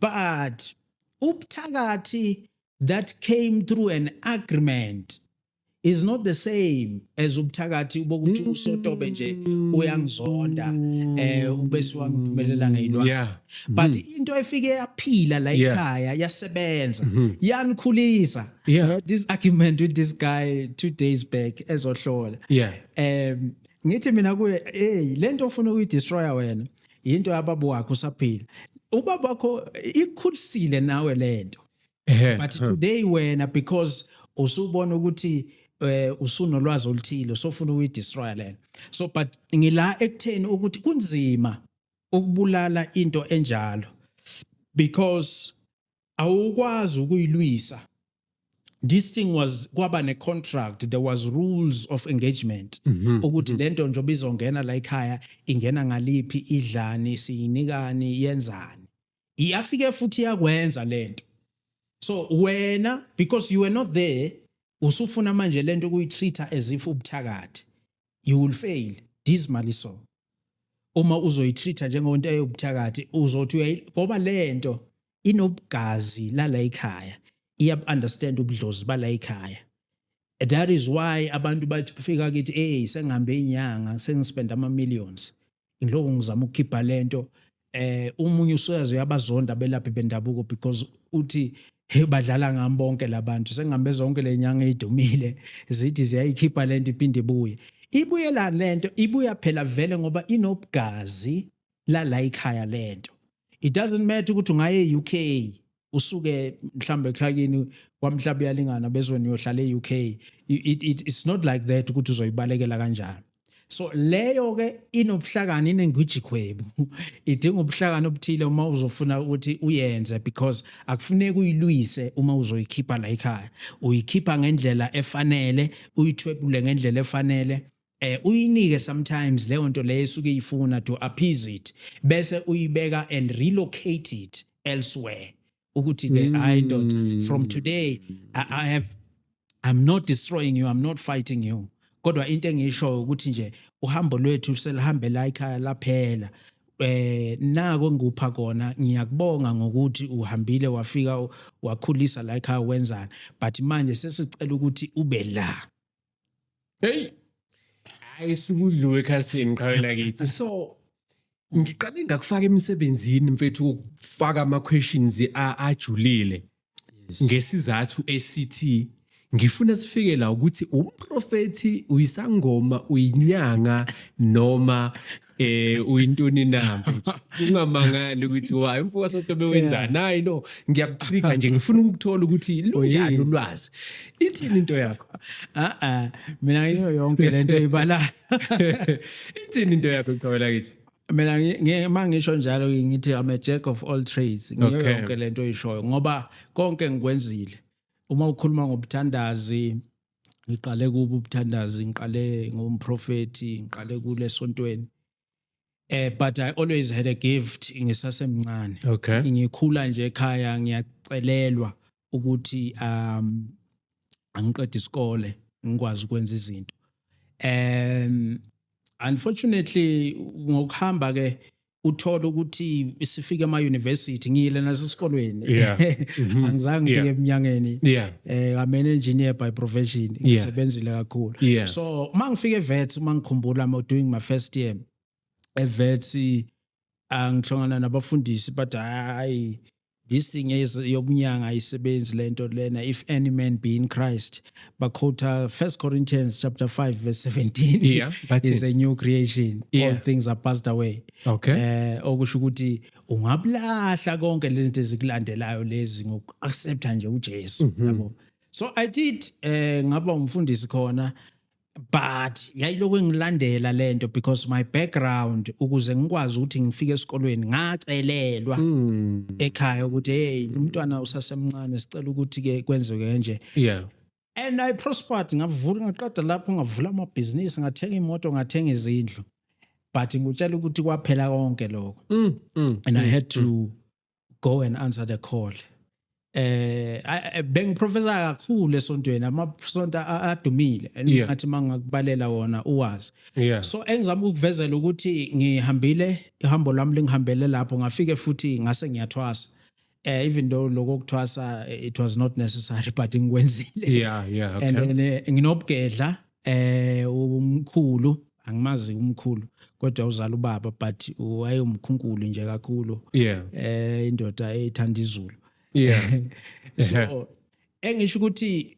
but ubuthakathi that came through an agreement is not the same as ubuthakathi bokuthi mm. usotobe nje uyangizonda eh ubese wangiphumelela ngeyilwane yeah. but mm. into efike yaphila la ekhaya yasebenza mm-hmm. yanikhulisa yeah. I had this argument with this guy two days back ezohlola yeah. um ngithi mina kuye hey lento ofuna ukuyidestroya wena yinto yababa wakho usaphila ubaba wakho ikhulisile nawe lento but today wena because usubona ukuthi eh usunolwazi oluthile sofuna ukuyidestroy lena so but ngila ekutheni ukuthi kunzima ukubulala into enjalo because awukwazi ukuyilwisa this thing was kwaba ne contract there was rules of engagement mhm, ukuthi mhm. lento njoba izongena la ekhaya ingena ngaliphi idlani siyinikani yenzani iyafike futhi yakwenza lento so wena because you were not there usufuna manje lento ukuyitreater as if ubuthakathi you will fail dismally so uma uzoyitreat njengento eyobuthakathi uzothi uyayi ngoba lento inobugazi lala ekhaya iya understand ubudlozi bala ekhaya that is why abantu bathi kufika kithi hey sengihambe inyanga sengispend ama millions ngiloko ngizama ukukhipha lento eh umunye usoyazi uyabazonda belaphi bendabuko because uthi hey badlala ngami bonke labantu sengihambe zonke lenyanga idumile zithi ziyayikhipha lento iphinde ibuye ibuyela lento ibuya phela vele ngoba inobugazi lala ikhaya lento it doesn't matter ukuthi ungaye UK usuke mhlambe ekhayini kwamhlaba uyalingana bezwe niyohlala e-UK it, it, it's not like that ukuthi uzoyibalekela kanjani so leyo ke inobuhlakani inengwijikhwebu idinga ubuhlakani obuthile uma uzofuna ukuthi uyenze because akufuneki uyilwise uma uzoyikhipha la ekhaya uyikhipha ngendlela efanele uyithwebule ngendlela efanele eh uyinike sometimes leyo nto leyo esuke ifuna to appease it bese uyibeka and relocate it elsewhere ukuthi ke hayi ndoda mm. from today I, i have i'm not destroying you i'm not fighting you kodwa into engisho ukuthi nje uhambo lwethu selihambe la ikhaya laphela eh nako ngikupha kona ngiyakubonga ngokuthi uhambile wafika wakhulisa la ekhaya wenzana but manje sesicela ukuthi ube la Hey. Hayi sukudliwe ekhasini qhawela kithi. So ngiqale ngakufaka emsebenzini mfethu ukufaka ama questions ajulile ngesizathu esithi ngifuna sifike la ukuthi umprofethi uyisangoma uyinyanga noma eh uyintoni na mfethu ungamangali ukuthi wayi umfoka sotobe wenzani hayi no ngiyakucika nje ngifuna ukuthola ukuthi lunjani ulwazi ithini into yakho a a mina ngiyo yonke lento ibala ithini into yakho qhawela kithi mina ngima ngisho njalo ngithi i'm a jack of all trades ngiyo yonke lento oyishoyo ngoba konke ngikwenzile uma ukhuluma ngobuthandazi ngiqale kubo ubuthandazi ngiqale ngomprofethi ngiqale kule sontweni eh but i always had a gift ngisasemncane okay ngikhula nje ekhaya ngiyacelelwa ukuthi um angiqede isikole ngikwazi ukwenza izinto um unfortunately ngokuhamba ke uthole ukuthi sifike ema university ngiyile nasesikolweni yeah. Mhm. angizange ngifike yeah. eminyangeni yeah. eh I'm an engineer by profession ngisebenzile yeah. kakhulu yeah. so uma ngifike vets uma ngikhumbula I'm doing my first year evets angithongana nabafundisi but hayi this thing is yobunyanga ayisebenzi lento lena if any man be in Christ bakhotha 1 Corinthians chapter 5 verse 17 yeah, is it. a new creation yeah. all things are passed away okay eh uh, okusho ukuthi ungablahla konke lezinto ezikulandelayo lezi ngokuaccepta nje uJesu mm -hmm. yabo so i did eh uh, ngaba umfundisi khona but yayilokhu engilandela lento because my background ukuze ngikwazi ukuthi ngifike esikolweni ngacelelwa mm. ekhaya ukuthi hey umntwana usasemncane sicela ukuthi ke kwenzeke kanje yeah and i prospered ngavula ngaqeda lapho ngavula amabhizinisi ngathenga imoto ngathenga izindlu but ngikutshela ukuthi kwaphela konke lokho mm, mm, and i mm, had to mm. go and answer the call eh bengiprofessor kakhulu esontweni amasonto adumile ngathi mangakubalela wona uwazi so engizama ukuvezela ukuthi ngihambile ihambo lami lingihambele lapho ngafike futhi ngase ngiyathwasa eh even though lokho kuthwasa it was not necessary but ngikwenzile yeah yeah okay. and then eh, nginobugedla eh umkhulu angimazi umkhulu kodwa uzala ubaba but wayewumkhunkulu nje kakhulu yeah eh indoda ethanda izulu yeah so engisho ukuthi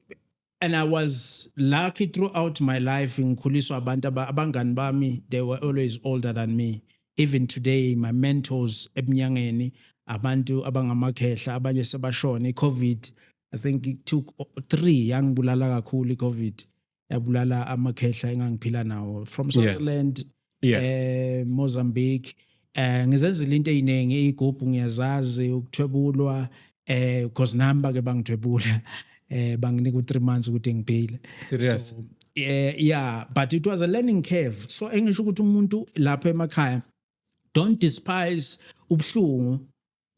and i was lucky throughout my life ngikhuliswa abantu abangani bami they were always older than me even today my mentors ebunyangeni abantu abangamakhehla abanye sebashona icovid i think it took three yangibulala kakhulu i-covid yabulala amakhehla engangiphila nawo from swaziland yeah. yeah. um mozambique eh ngizenzile into eziningi igubhu ngiyazazi ukuthwebulwa eh because nami bake bangithwebula eh banginika u3 months ukuthi ngiphile serious so, eh yeah but it was a learning curve so engisho ukuthi umuntu lapha emakhaya don't despise ubuhlungu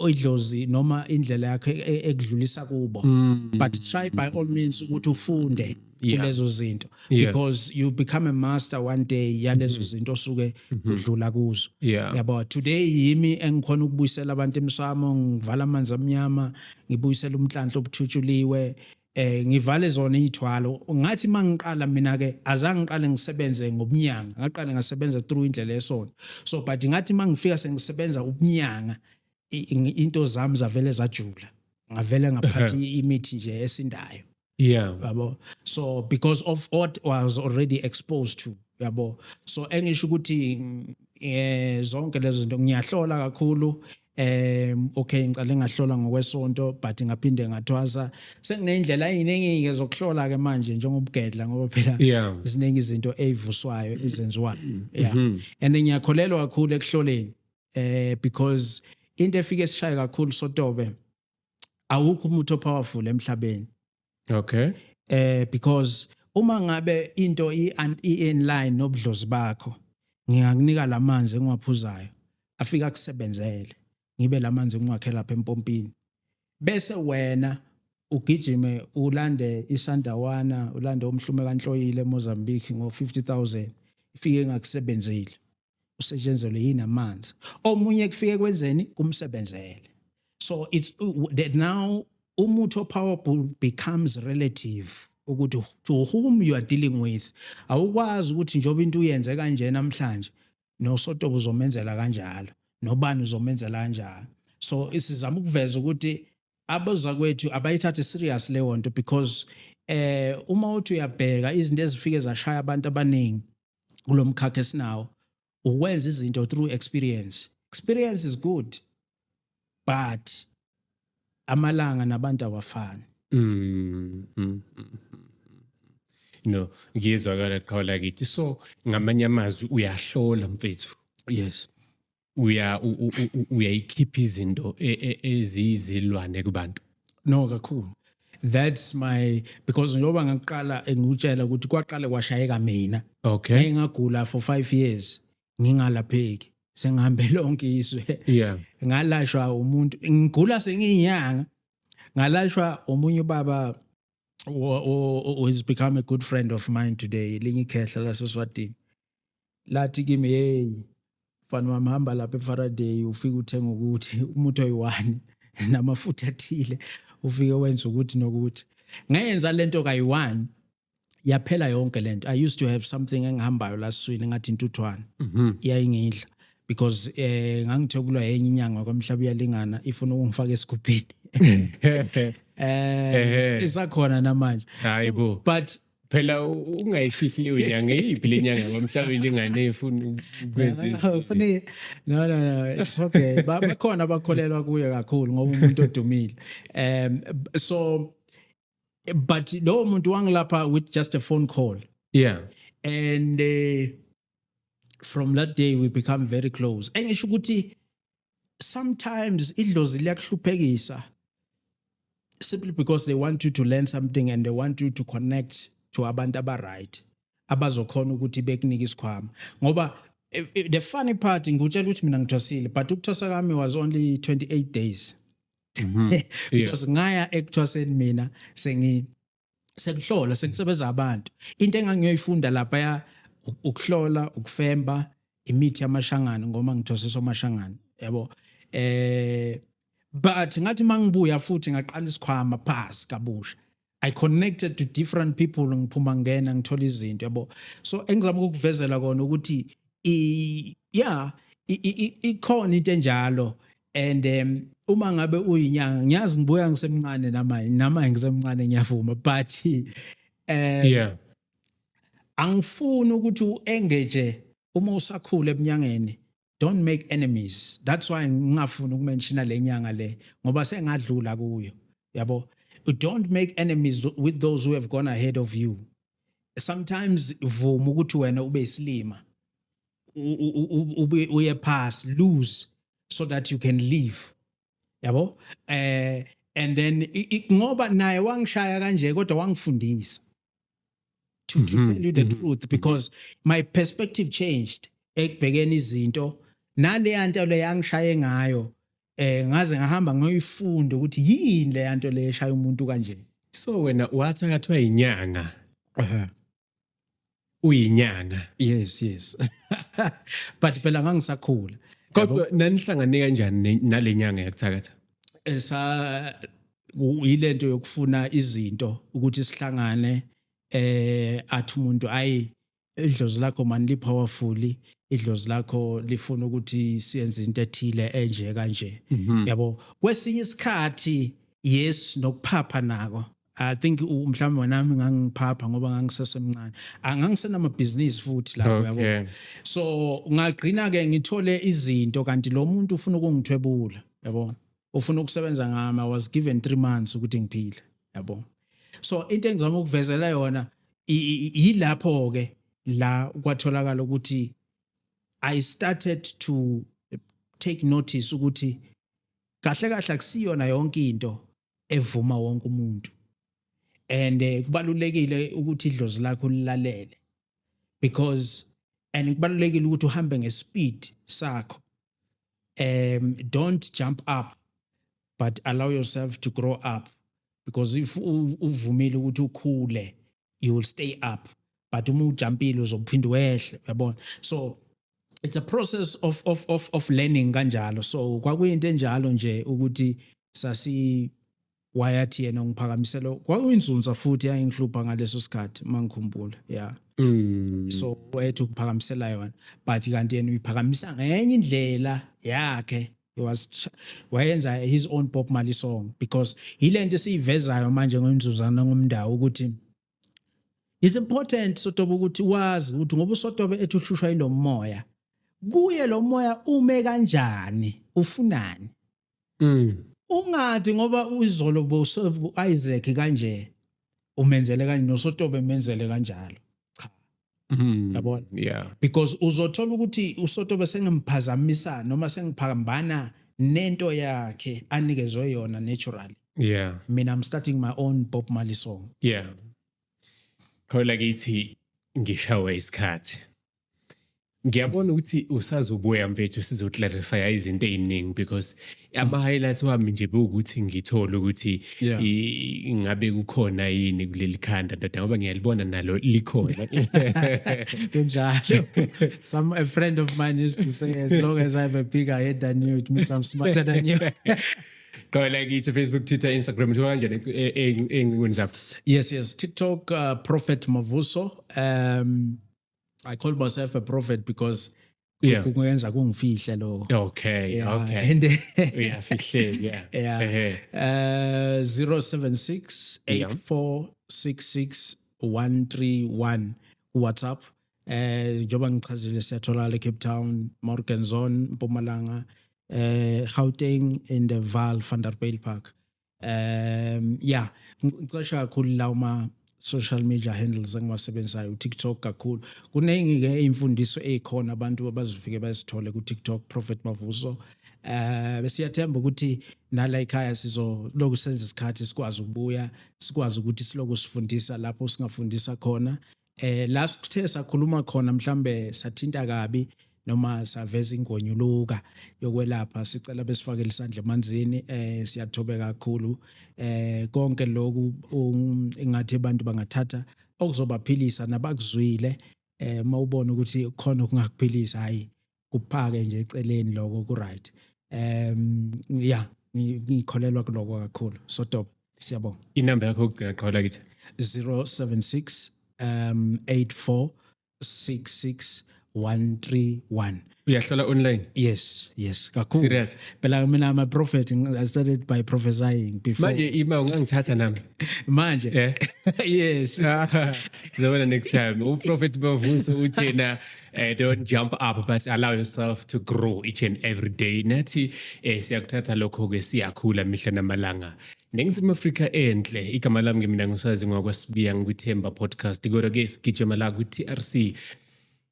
idlozi noma indlela yakhe e- e- ekudlulisa kubo Mm. but try by all means ukuthi ufunde Yeah. kulezo zinto Yeah. Mm-hmm. because you become a master one day yalezo zinto osuke udlula kuzo Yeah. yabo today yimi engikhona ukubuyisela abantu emsamo ngivala amanzi amnyama ngibuyisela umhlanhla obuthutshuliwe eh ngivale zona izithwalo ngathi mangiqala mina ke azange ngiqale ngisebenze ngobunyanga ngaqale ngasebenza through indlela yesonto so but ngathi mangifika sengisebenza ubunyanga into zami zavele zajula ngavele ngaphathi imithi nje esindayo yeah yabo so because of what was already exposed to yabo so engisho ukuthi eh zonke lezo zinto ngiyahlola kakhulu um okay ngicale ngahlola ngokwesonto but ngaphinde ngathwasa sengineyindlela eziningi-ke zokuhlola-ke manje njengobugedla ngoba phela Yeah. ziningi izinto eyivuswayo ezenziwayo yeah Mhm. and ngiyakholelwa kakhulu ekuhloleni eh because into efike esishaye kakhulu sotobe awukho umuthi opowerful emhlabeni okay eh because uma ngabe into i in line nobudlozi bakho ngingakunika lamanzi engiwaphuzayo afika kusebenzele ngibe lamanzi engiwakhe lapha empompini bese wena ugijime ulande isandawana ulande umhlume kanhloyile eMozambique ngo 50000 ifike ingakusebenzile usetshenzelwe yini amanzi omunye kufike kwenzeni kumsebenzele so it's that now umuthi powerful becomes relative ukuthi to whom you are dealing with awukwazi ukuthi njengoba into uyenze kanje namhlanje nosotobo uzomenzela kanjalo nobani uzomenzela kanjalo so isizama ukuveza ukuthi abazakwethu abayithathe serious leyo nto because eh uma uthi uyabheka izinto ezifike zashaya abantu abaningi kulomkhakha esinawo ukwenza izinto through experience experience is good but amalanga nabantu awafani mm, mm, mm, no ngiyezwakala qhawula kithi so ngamanye amazwi uyahlola mfethu yes uya uyayikhipha izinto e, e, eziyizilwane kubantu no kakhulu that's my because njengoba ngakuqala engikutshela ukuthi kwaqale kwashayeka mina okay ngingagula for 5 years ngingalapheki sengihambe lonke izwe yeah ngalashwa umuntu ngigula sengiyinyanga ngalashwa omunye ubaba who is become a good friend of mine today linye ikhehla laseswatini lathi kimi hey mfana wami hamba lapha eFaraday ufike uthenga ukuthi umuthi oyi-one namafutha athile ufike wenza ukuthi nokuthi ngenza lento kayi-one yaphela yonke lento i used to have something engihambayo laswini ngathi intuthwane mhm. yayingidla mm -hmm. because eh ngangithokulwa yenye inyanga kwamhlaba uyalingana ifuna ukungifaka esigubhini eh isakhona namanje hayibo but phela ungayifihli leyo nyanga eyiphi le nyanga kwamhlabeni ingane efuna ukwenza funi no no no it's okay bakhona abakholelwa kuye kakhulu ngoba umuntu odumile um so but lowo muntu wangilapha with just a phone call yeah and uh, from that day we become very close engisho ukuthi sometimes idlozi liyakuhluphekisa simply because they want you to learn something and they want you to connect to abantu abaright abazokhona ukuthi bekunike isikhwama ngoba eh, eh, the funny part ngikutshela ukuthi mina ngithwasile but ukuthwasa kwami was only 28 days mm -hmm. because yeah. ngaya ekuthwaseni mina sengi sekuhlola sekusebenza abantu into engangiyoyifunda lapha ya ukuhlola ukufemba imithi yamashangana ngoma ngithosisa amashangana yabo eh but ngathi mangibuya futhi ngaqala isikhwama pass kabusha I connected to different people ngiphuma ngena ngithola izinto yabo so engizama ukukuvezela kona ukuthi i yeah ikhona into enjalo and um uma ngabe uyinyanga ngiyazi ngibuya ngisemncane namanje namanje ngisemncane ngiyavuma but um yeah angifuni ukuthi u-engage uma usakhula ebunyangeni don't make enemies that's why ngingafuni ukumenshina le nyanga le ngoba sengadlula kuyo yabo don't make enemies with those who have gone ahead of you sometimes vuma ukuthi wena ube isilima ube uye pass lose so that you can leave yabo eh and then ngoba naye wangishaya kanje kodwa wangifundisa to, to mm-hmm. tell you the mm-hmm. truth mm-hmm. because my perspective changed ekubhekeni izinto naleya nto le yangishaye ngayo eh ngaze ngahamba ngoyifunda ukuthi yini le yanto le eshaya umuntu kanje so wena wathi akathiwa inyanga uyinyanga yes yes but phela ngangisakhula kodwa nanihlangane kanjani nalenyanga yakuthakatha esa yilento yokufuna izinto ukuthi sihlangane eh athi umuntu ayi idlozi lakho mani li powerful idlozi lakho lifuna ukuthi siyenze into ethile enje kanje mhm. yabo kwesinye isikhathi yes nokuphapha nako I think u- mhlawumbe wena nami ngangiphapha ngoba ngangisesemncane Ah, ngangisenamabhizinisi futhi lapho Okay. yabo so ngagcina ke ngithole izinto kanti lo muntu ufuna ukungithwebula yabo ufuna ukusebenza ngami i was given 3 months ukuthi ngiphile yabo so into engizama ukuvezela yona i- i- i- yilapho ke la kwatholakala ukuthi i started to take notice ukuthi kahle kahle akusiyona yonke into evuma wonke umuntu and eh, kubalulekile ukuthi idlozi lakho lilalele because and kubalulekile ukuthi uhambe ngespeed sakho um don't jump up but allow yourself to grow up because if uvumile ukuthi ukhule you will stay up but uma ujampile uzophinde wehle uyabona so it's a process of of of of learning kanjalo so kwakuyinto enjalo nje ukuthi sasi wayathi yena ngiphakamisela kwakuyinzunza futhi yayingihlupha ngaleso sikhathi mangikhumbula yeah Mm. so wethu ukuphakamisela yona but kanti yena uyiphakamisa ngenye indlela yakhe he was ch- wayenza his own Bob Marley song because yilento esiyivezayo manje ngomzuzana ngomndawo ukuthi it's important sotobe ukuthi wazi ukuthi ngoba usotobe ethi uhlushwa yilo moya kuye lo moya ume kanjani ufunani Mm. ungathi ngoba uzolo bosevu Isaac kanje umenzele kanje nosotobe menzele kanjalo cha Mm-hmm. yabona yeah because uzothola ukuthi usotobe sengemphazamisa noma sengiphambana nento yakhe anikezwe yona naturally yeah mina i'm starting my own bob marley song yeah khola kithi ngishawe isikhathi ngiyabona ukuthi usazobuya mfethu sizoclarifya izinto eziningi because ama-highlights wami nje bewukuthi ngithole ukuthi yeah. ingabe kukhona yini kuleli khanda ndoda ngoba ngiyalibona nalo likhona kunjalo some a friend of mine used to say as long as i have a bigger head than you it means i'm smarter than you Gawela kithi Facebook, Twitter, Instagram uthola kanjani engcingweni zakho? Yes, yes. TikTok uh, Prophet Mavuso. Um I call myself a prophet because yeah kungenza kungifihle lo okay yeah. okay and yeah fihle yeah yeah uh 076 8466 131 WhatsApp eh njoba ngichazile siyatholakala eCape Town, Morganson, Mpumalanga, eh Gauteng in the Vaal van der Bijl Park. um yeah ngicosha kakhulu la uma social media handles engiwasebenzisayo uTikTok kakhulu kuningi ke imfundiso ezikhona abantu abazifike bazithole kuTikTok Prophet Mavuso eh besiyathemba ukuthi nala ekhaya sizoloku senza isikhathi sikwazi ukubuya sikwazi ukuthi siloku sifundisa lapho singafundisa khona eh la sithe sakhuluma khona mhlambe sathinta kabi noma saveza ingonyuluka yokwelapha sicela besifake lisandla emanzini eh siyathobeka kakhulu eh konke lokhu um, ingathi abantu bangathatha okuzobaphilisa nabakuzwile eh mawubona ukuthi khona okungakuphilisa hayi kuphake nje eceleni lokho ku right um yeah ngikholelwa kuloko kakhulu so dope siyabonga inamba yakho ukugcina qhawula kithi 076 um 84 66 131 uyahlola online yes yes kakhulu serious phela mina ama prophet i started by prophesying before manje ima ungangithatha nami manje yeah. yes zobona next time u prophet bavuso uthena Uh, don't jump up but allow yourself to grow each and every day nathi eh, siyakuthatha lokho-ke siyakhula mihla namalanga ningizimu afrika enhle igama lami ngimina ngusazi ngwakwasibiya ngikwithemba podcast kodwa-ke sigijima la kwi-trc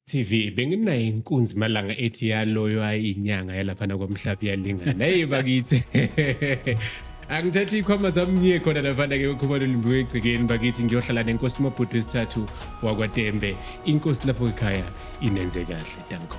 TV benginayo inkunzi malanga ethi yaloyo ayinyanga yalaphana kwamhlapi yalingana hey bakithi angithathe ikhwama zami ngiye khona navanda ke ukhumalo limbiwe egcekeni bakithi ngiyohlala nenkosi mabhudu wesithathu wakwatembe inkosi lapho ekhaya inenze kahle danko